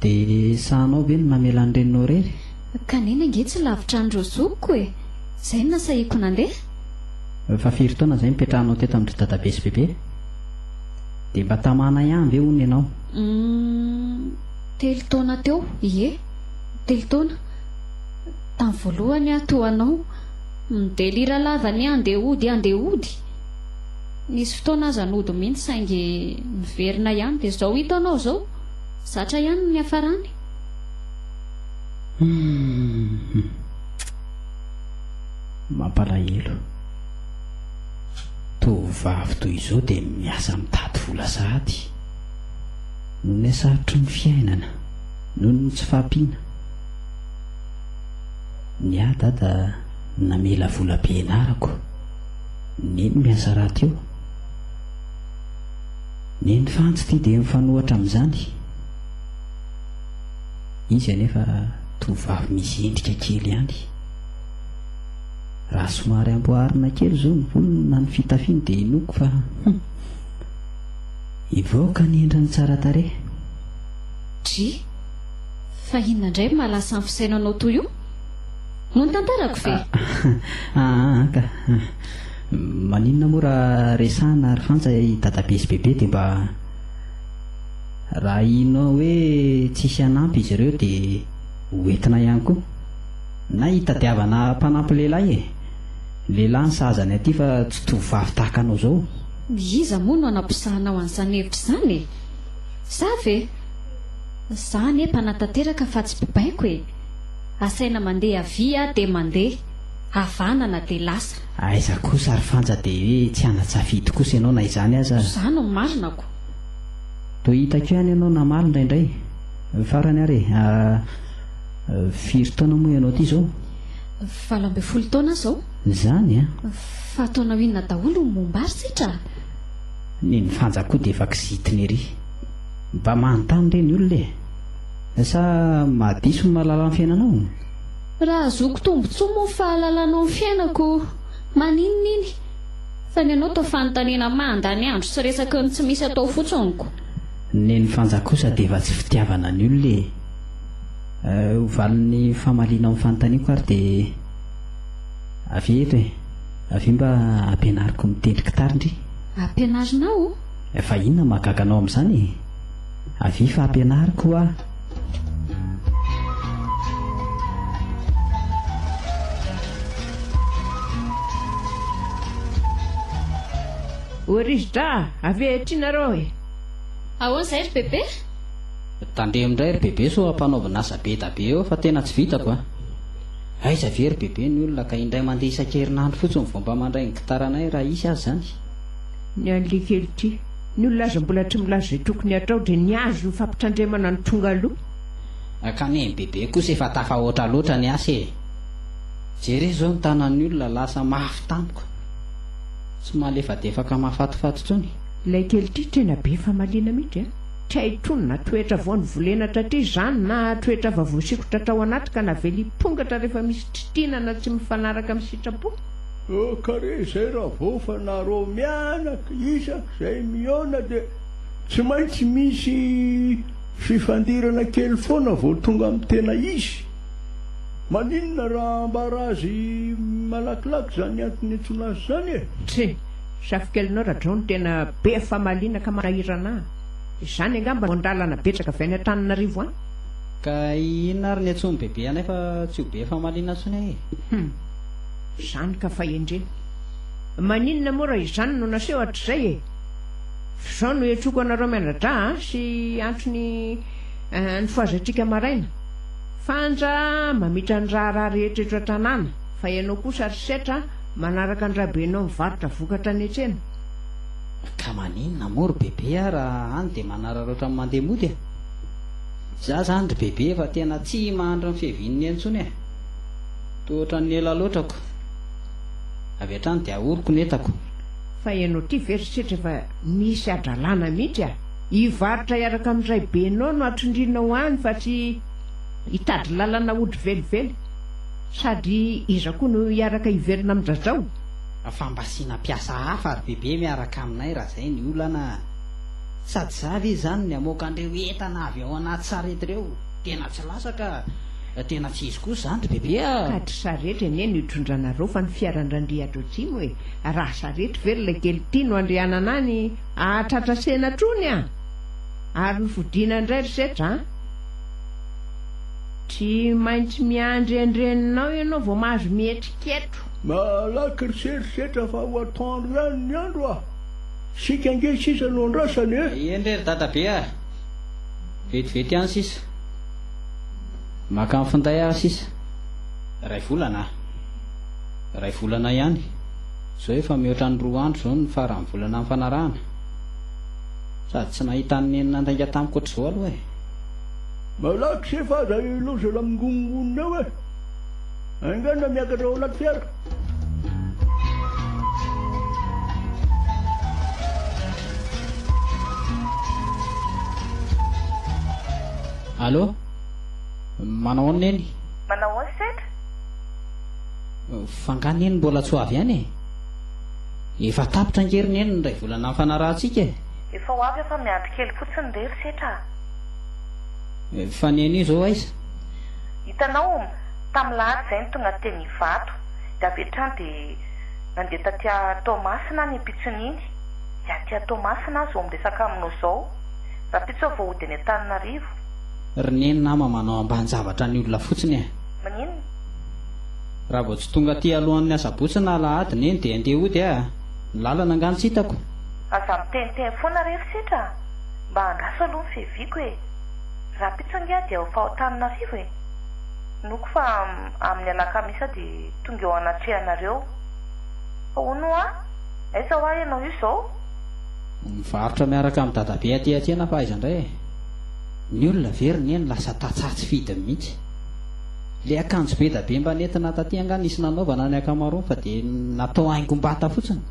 Dia sahanao ve ny namela ny reninao irery? Ka neny ange tsy lavitra an'ireo zokiko e. Izay no nasahiako nandeha. Efa firy taona izay nipetrahanao teto amin-dry dadabe sy bebe? Dia mba tamanay any ve hono ianao? Umm telo taona teo, ie, telo taona. Tamin'ny voalohany aho toa anao, mi-delira lava ny andeha hody andeha hody. Nisy fotoana aza nody mihitsy saingy niverina ihany dia izao hita anao izao, zatra ihany ny niafarany. Umm hum. Mampalahelo. Tovovavy toy izao dia miasa mitady vola sahady. Noho ilay sarotry ny fiainana, noho ny tsy fahampiana, ny ahy dada namela vola be ianarako, neny miasa raty eo, neny fantsy ity dia mifanohatra amin'izany. Izy anefa tovovavy misy endrika kely ihany. Raha somary amboarina kely izao ny volony na ny fitafiny dia inoako fa hum! hivoaka ny endriny tsara tarehy. Dry, fa inona indray no mahalasa ny fisainao anao toy io? Moa ny tantarako ve? Aa ka! Maninona moa raha resahina ry Fantsa i Dadabe sy Bebe dia mba raha ino hoe tsisy hanampy izy ireo dia ho entina ihany koa. Na hitadiavana mpanampy lehilahy e! Lehilahy ny sahaza ny aty fa tsy tovovavy tahaka anao zao. Iza moa no anaposahanao an'izany hevitra izany e! Za ve? Za anie mpanatanteraka fa tsy mpibaiko e! Asaina mandeha avia aho dia mandeha, havanana dia lasa. Aiza kosa ry Fanja dia hoe tsy ana-tsafidy kosa ianao na izany aza. Za no marinako. Toa hitako ihany ianao namaly indraindray. Farany ary e! Firy taona moa ianao ity zao? Valo ambin'ny folo taona aho zao. Zany an! Fa taonao inona daholo no momba ary Setra a! Ny ny fanja koa dia efa kizitina ery. Mba manontany re ny olona e! Sa mahadiso ny mahalala ny fiainanao? Raha ahazoako tombotsoa moa ny fahalalanao ny fiainako, maninona iny? Fa ny anao toa fanontaniana mandany andro sy resaky ny tsy misy atao fotsiny ko! Ny ny fanja kosa dia efa tsy fitiavana ny olona e! Ho valin'ny famaliana ao amin'ny fanontaniako ary dia avy eo eto e! Avy eo mba ampianariko mitendry gitara ndry! Ampianarinao o? Fa inona no mahagaga anao amin'izany e? Avia fa ampianariko ho'a! O ry rizo-dra! Avia eto indray nareo e! Ahoana izay ry Bebe? Tandremo ndray ry bebe sao ampanaovina asa bedabe eo fa tena tsy vitako a! Aiza ve ry bebe ny olona ka indray mandeha isan-kerinandro fotsiny vao mba mandray ny gitaranay raha hisy aza zany? Ny an'ly kely ty, ny olona aza mbola tsy milaza izay tokony hatao dia ny azy no fampitandremana no tonga aloha. Ka neny bebe kosa efa tafahoatra loatra ny asa e! Jereo izao ny tanan'ny olona lasa mafy tampoka, tsy malefadefaka mahafatifaty intsony. Ilay kely ity tena be famaliana mihitsy a! Traitron na toetra vao nivolena tratry izany na toetra efa voasikotra hatrao anaty ka navelipongatra rehefa misy tritinana tsy mifanaraka amin'ny sitrapo. Toakare izay ravofa na rô mianaka isak izay mihaona dia tsy maintsy misy fifandirana kely foana vao tonga amin'ny tena izy. Maninona raha ambara azy malakilaky izany antony niantsoana azy izany e? Tsia. Safikelinao radrao no tena be famaliana ka manahirana ahy. Izany angamba no an-dalana betsaka avy any Antananarivo any. Ka inona ary ny antsoin'ny bebe anay fa tsy ho be famaliana intsony ahy e? Hum. Izany ka fahendrena. Maninona moa raha izany no naseho hatrizay e? F'izao no iantroako anareo mianadra a! sy antony ny foazatsika maraina. Fanja mamitra ny raharaha rehetra eto an-tanàna fa ianao kosa ry setra a! Manaraka an-dRabenao mivarotra vokatra any an-tsena? Ka maninona moa ry Bebe a raha any dia manararaotra ny mandeha mody e! Izaho izany ry Bebe efa tena tsy mahantra ny fiavian'ny eny intsony e! Toa ohatran'ny ela loatra ako! Avy hatrany dia ahoroko ny entako. Fa ianao ity ve ry Setra efa misy hadralana mihitsy a! Hivarotra hiaraka amin-dRaibenao no hatsindrinao any fa tsy hitady lalana hody velively. Sady iza koa no hiaraka hivelona am dradrao? Fa mba asiana mpiasa hafa ry bebe miaraka aminay raha zay ny olana a! Sady za ve zany ny hamoaka an'ireo entana avy ao anaty sarety ireo? Tena tsy lasa ka! Tena tsy izy kosa zany ry bebe a! Ka dry sarety anie no hitondranareo fa ny fiaran-dRandriatra Atsimo e! Raha sarety ve ry Lekely ity no andrianana any hahatratra senatr'ony a! Ary ny fodiana indray ry setra a! Tsy maintsy miandry andreninao ianao vao mahazo mieritriketro. Malaky riserisetra fa ho atoandro ihany ny andro a! Isika ange sisa no andrasany e! Eny re ry dadabe a! Vetivety ihany sisa. Maka ny finday ary sisa. Iray volana a! Iray volana ihany. Izao efa mihoatra ny roa andro izao ny faran'ny volana nifanarahana. Sady tsy nahita an'i Neny nandainga tamiko ohatr'izao aloha e! Malaky se fa aza i loza la mingongonona eo eh! Haingana miakatra ao anaty fiara. Allo? Manao ahoana neny? Manao ahoana sendra? F'angaha neny mbola tsy ho avy any e? Efa tapitra ange ry neny ny iray volana nifanarahantsika e! Efa ho avy aho fa miandry kely fotsiny re ry setra a! Fa ny anio zao aiza? Hitanao, tamin'ny lahady izay ny tonga teny Ivato, dia avy hatrany dia nandeha taty Toamasina ny mpitson'iny, dia aty Toamasina aho izao miresaka aminao izao, rahampitso vao hody any Antananarivo. Ry Neny nama manao ambanin-javatra ny olona fotsiny e! Maninona? Raha vao tsy tonga aty alohan'ny asabotsy na alahady Neny dia andeha hody aho a! Ny lalana angaha no tsy hitako? Aza miteniteny foana re ry setra a! Mba andraso aloha ny fiheviako e! Raha pizza angaha dia ao Faotananarivo e! Inoako fa amin'ny alakamisy aho dia tonga eo anatrehanareo. Fa hono hoa? Aiza hoa ianao io izao? Nivarotra miaraka amin'i Dadabe aty aty ianao fa aiza indray e! Ny olona ve ry Neny lasa tantsaha tsy fidiny mihitsy? Ilay akanjo be da be mba nentina taty angaha nisy nanaovana ny ankamaroany fa dia natao haingom-bata fotsiny?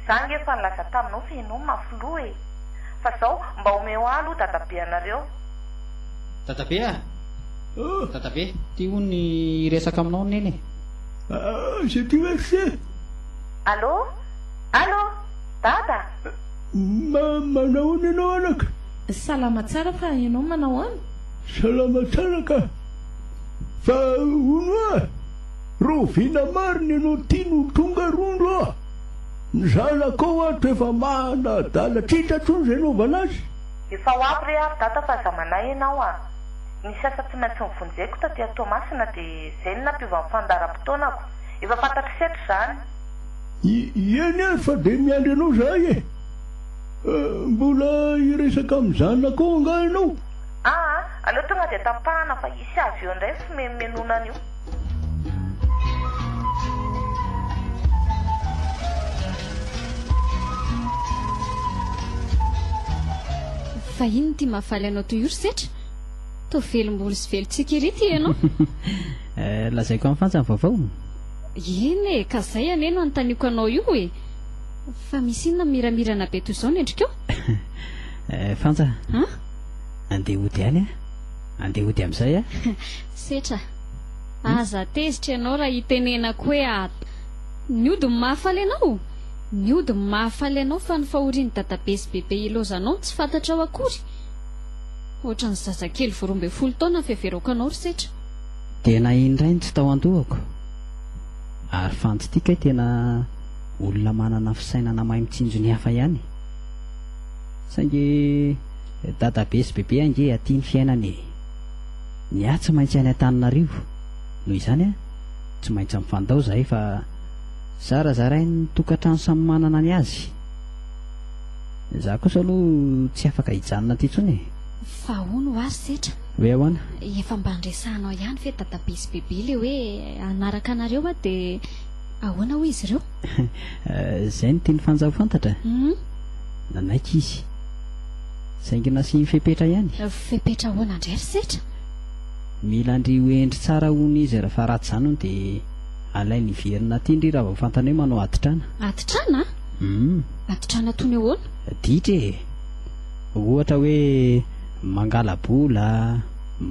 Za ange efa nilaza taminao fa ianao mafy loha e! Fa zao mba omeo ahy aloha dadabe anareo. Dadabe a! Ohh! Dadabe! Tia hono ny hiresaka aminao neny e! Aah! J'ai plus accès! Allô! Allô! Dada! Ma, manao ahoana ianao anaka? Salama tsara fa ianao manao ahoana? Salama tsara ka! Fa hono oa! Rahoviana marina ianao tia no tonga rondro a! Ny zanako ao ato efa mana adala titra tony zay novana azy. Efa ho avy re ary dada fa zamanay ianao a! Nisy asa tsy maintsy nivonjeko taty a Toamasina de zay no nampiova ny fandaharam-potoanako. Efa fantatro setra izany. Eny ary fa de miandry anao zahay e! Mbola hiresaka amin'ny zanako ao angaha ianao? Aa! Aleo tonga de tapahana fa hisy avy eo indray ny fimenomenonana io. Fa inona ity mahafaly anao toy io ry Setra? Toa velom-bolo sy velon-tsiky ery ity ianao. Eh, lazaiko amin'ny fantsa ny vaovao. Eny e, ka izay anie no anontaniako anao io e. Fa misy inona miramirana be toy izao ny endrikao? Eh, fantsa. An? Andeha hody any aho. Andeha hody amin'izay aho. Setra, Aza tezitra ianao raha itenenako hoe at. Ny ody no mahafaly anao? Ny ody no mahafaly anao fa ny fahorian'i dadabe sy bebe ilaozanao no tsy fantatrao akory? Ohatran'ny zazakely vao roa ambin'ny folo taona no fiheverako anao ry Setra. Dia naheno indray ny tsy tao an-dohako. Ary fanty ity kay tena olona manana fisainana mahay mitsinjo ny hafa ihany. Saingy dadabe sy bebe ange aty ny fiainana e! Ny ahy tsy maintsy any Antananarivo, noho izany a, tsy maintsy mifandao zahay fa zarazarain'ny tokantrano samy manana ny azy. Za kosa aloha tsy afaka hijanona aty intsony e. Fa hono ho azy setra. Hoe ahoana? Efa mba niresahanao ihany ve dadabe sy bebe le hoe hanaraka anareo aho de ahoana hoy izy ireo? Zay no tian'i Fanja ho fantatra? Humm. Nanaiky izy. Saingy nasiany fepetra ihany. Fepetra ahoana indray ry setra? Mila an-dry ho hendry tsara hono izy rehefa ratsy izany hono dia alainy hiverina aty ndry raha vao fantany hoe manao atitrana. Atitrana? Hum. Atitrana toy ny ahoana? Ditra e! Ohatra hoe mangala-bola,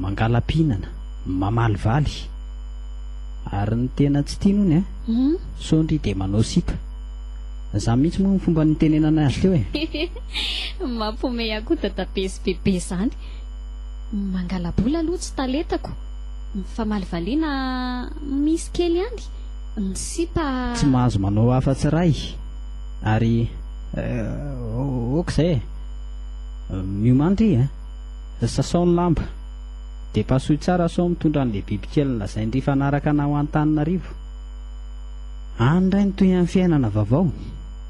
mangala-pihinana, mamalivaly. Ary ny tena tsy tiany hono an! Hum. Sao ndry dia manao sipa. Za mihitsy moa ny fomba nitenenana azy teo e. Mampihomehy ahy koa dadabe sy bebe zany. Mangalabola aloha tsy talentako. Mifamaly valiana misy kely ihany. Ny sipa. Tsy mahazo manao afatsy iray ary ok izay e. Miomany ry a. Sasao ny lamba. Dia pasohy tsara sao mitondra an'ilay bibikely nolazain'ry fanaraka anao any Taninarivo. Any indray ny tohinan'ny fiainana vaovao.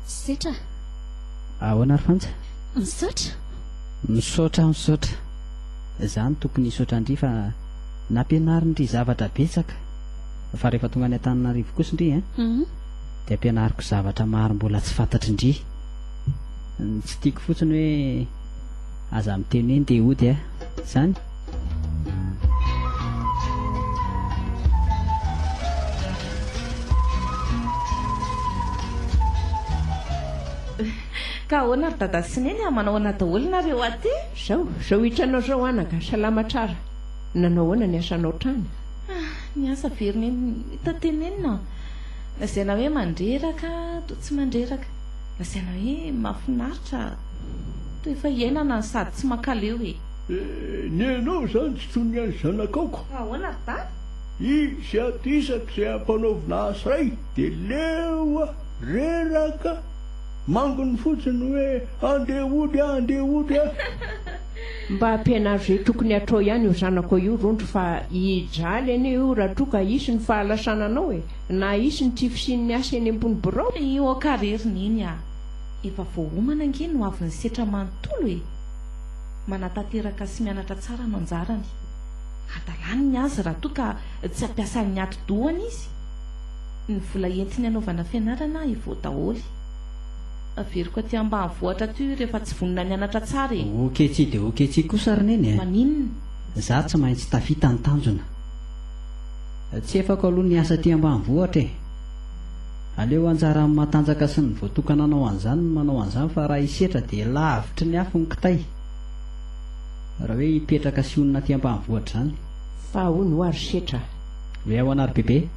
Setra. Ahoana ry Fanja? Misaotra. Misaotra, misaotra. Izaho no tokony hisaotra an-dry fa nampianarin-dry zavatra betsaka. Fa rehefa tonga any Antananarivo kosa indry an, dia ampianariko zavatra maro mbola tsy fantatrin-dry. Ny tsy tiako fotsiny hoe aza miteny hoe ndeha hody an, izany. Ka ahoana ry dada sy neny a, manao ahoana daholo nareo aty? Zao, zao hitranao zao anaka, salama tsara, nanao ahoana ny asanao trany? Ah, ny asa ve ry neny, mitantenenina aho, lazaina hoe mandreraka, toa tsy mandreraka, lazaina hoe mahafinaritra, toa efa iainana sady tsy mankaleo e! Ny anao izany tsy toy ny an'ny zanakao ko. Ahoana ry dada? Izy ato isaka izay ampanaovina asa iray dia leo a! reraka a! mangony fotsiny hoe andeha hody a! andeha hody a! Mba ampianaro izay tokony hatrao ihany io zanakao io rondro fa hijaly anie io raha toa ka hisy ny fahalasananao e! na hisy ny tsy fisian'ny asa eny ambony birao. Io aho kary ry Neny a! efa vao homana ange no avy nisetra manontolo e! Manatanteraka sy mianatra tsara no anjarany. Hadalany ny azy raha toa ka tsy ampiasan'ny atidohany izy. Ny vola entiny hanaovana fianarana evoa daholo. Averiko aty ambanivohitra aty hoy rehefa tsy vonona nianatra tsara e! Oketsy dia oketsy kosa ry Neny a! Maninona? Za tsy maintsy tafita ny tanjona. Tsy efako aloha ny asa aty ambanivohitra e! Aleo anjaran'ny matanjaka sy ny voatokana hanao an'izany ny manao an'izany fa raha hisetra dia lavitry ny afo ny kitay raha hoe hipetraka sy honina aty ambanivohitra izany. Fa ahoana hoa ry setra a! Hoe ahoana ry Bebe?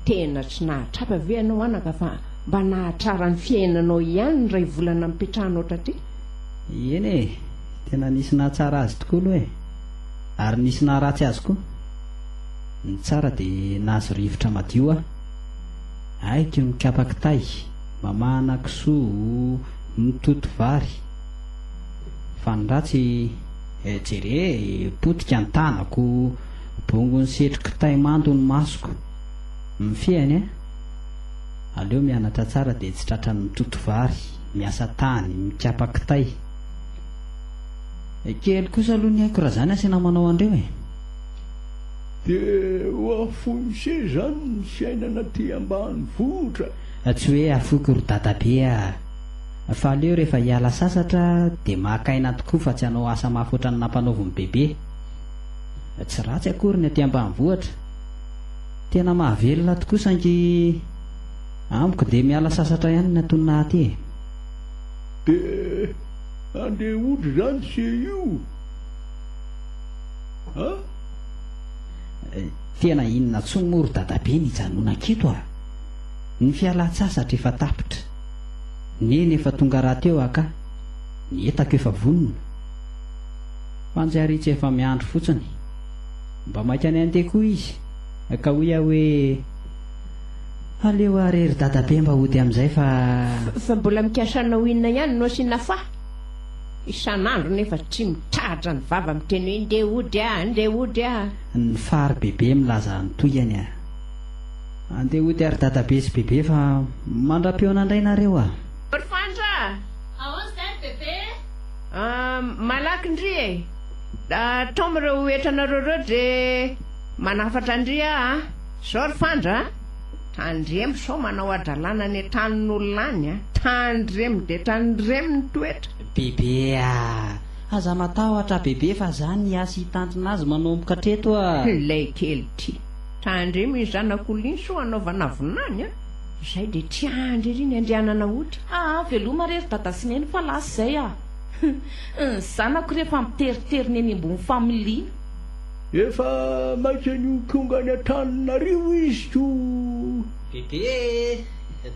Tena tsy nahatratra ve ianao anaka fa mba nahatrara ny fiainanao ihany ny iray volana nipetrahanao taty? Eny e! Tena nisy nahatsara azy tokoa aloha e! Ary nisy naharatsy azy koa. Ny tsara dia nahazo rivotra madio aho. Haiko mikapa kitay, mamahana kisoa, mitoto vary. Fa ny ratsy, eh, jere e, potika ny tanako, bongon'ny setro kitay mando ny masoko. Mifehiny eh! Aleo mianatra tsara dia tsy tratran'ny mitoto vary, miasa tany, mikapa kitay. Kely kosa aloha ny aiko raha izany asiana manao an'ireo e! Dia ho afoiny se zany ny fiainana aty ambanivohitra. Tsy hoe afoiko ry dadabe a! Fa aleo rehefa hiala sasatra dia maka aina tokoa fa tsy hanao asa mafy ohatran'ny nampanaovin'i bebe. Tsy ratsy akory ny aty ambanivohitra. Tena mahavelona tokoa saingy amiko dia miala sasatra ihany ny antonona aty e! Dia andeha hodry zany se io? Tena inona tsony moa ry dadabe ny hijanonanketo a! Ny fialan-tsasatra efa tapitra. Neny efa tonga rahateo aho ka! Ny entako efa vonona. Fanjariana efa miandry fotsiny. Mba maika any andeha koa izy ka hoy aho hoe, Aleo ary ry dadabe mba hody amin'izay fa. Fa mbola mikasa hanao inona ihany no asiana fà? Isan'andro nefa tsy mitratra ny vava miteny hoe ndeha hody ah, ndeha hody ah. Ny fary bebe milaza ny tohiny ah. Andeha hody ary dadabe sy bebe fa mandra-peo nandray nareo ah. Ry Fandra ah! Aônz zay ry bebe eh? Ah, malaky ndry eh! Tom ireo entranareo ireo dre manafatra ndry ah ah. Zao ry Fandra ah! Tandremo sao manao hadralana any an-tranon'olona any a! Tandremo dia tandremo ny toetra! Bebe a! Aza matahotra bebe fa za ny hiasy hitantona azy manomboka hatreto a! Ilay kely ty! Tandremo iny zanak'olona iny sao hanaovana vina any a! Izay dia tiandry ery ny andehanana hody! Aa veloma re ry dada sy neny fa lasa izay a! Humm! Ny zanako rehefa miteritery ny eny ambony familiana! Efa maika ny ho tonga any Antananarivo izy ko! Bebe e!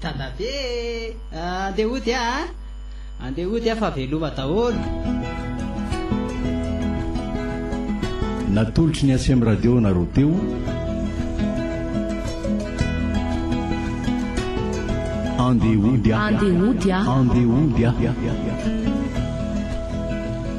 Dadabe e! Andeha hody ah a! Andeha hody ah fa veloma daholo! Natolotry ny Acem Radio nareo teo. Andeha hody ah! Andeha hody ah! Andeha hody ah!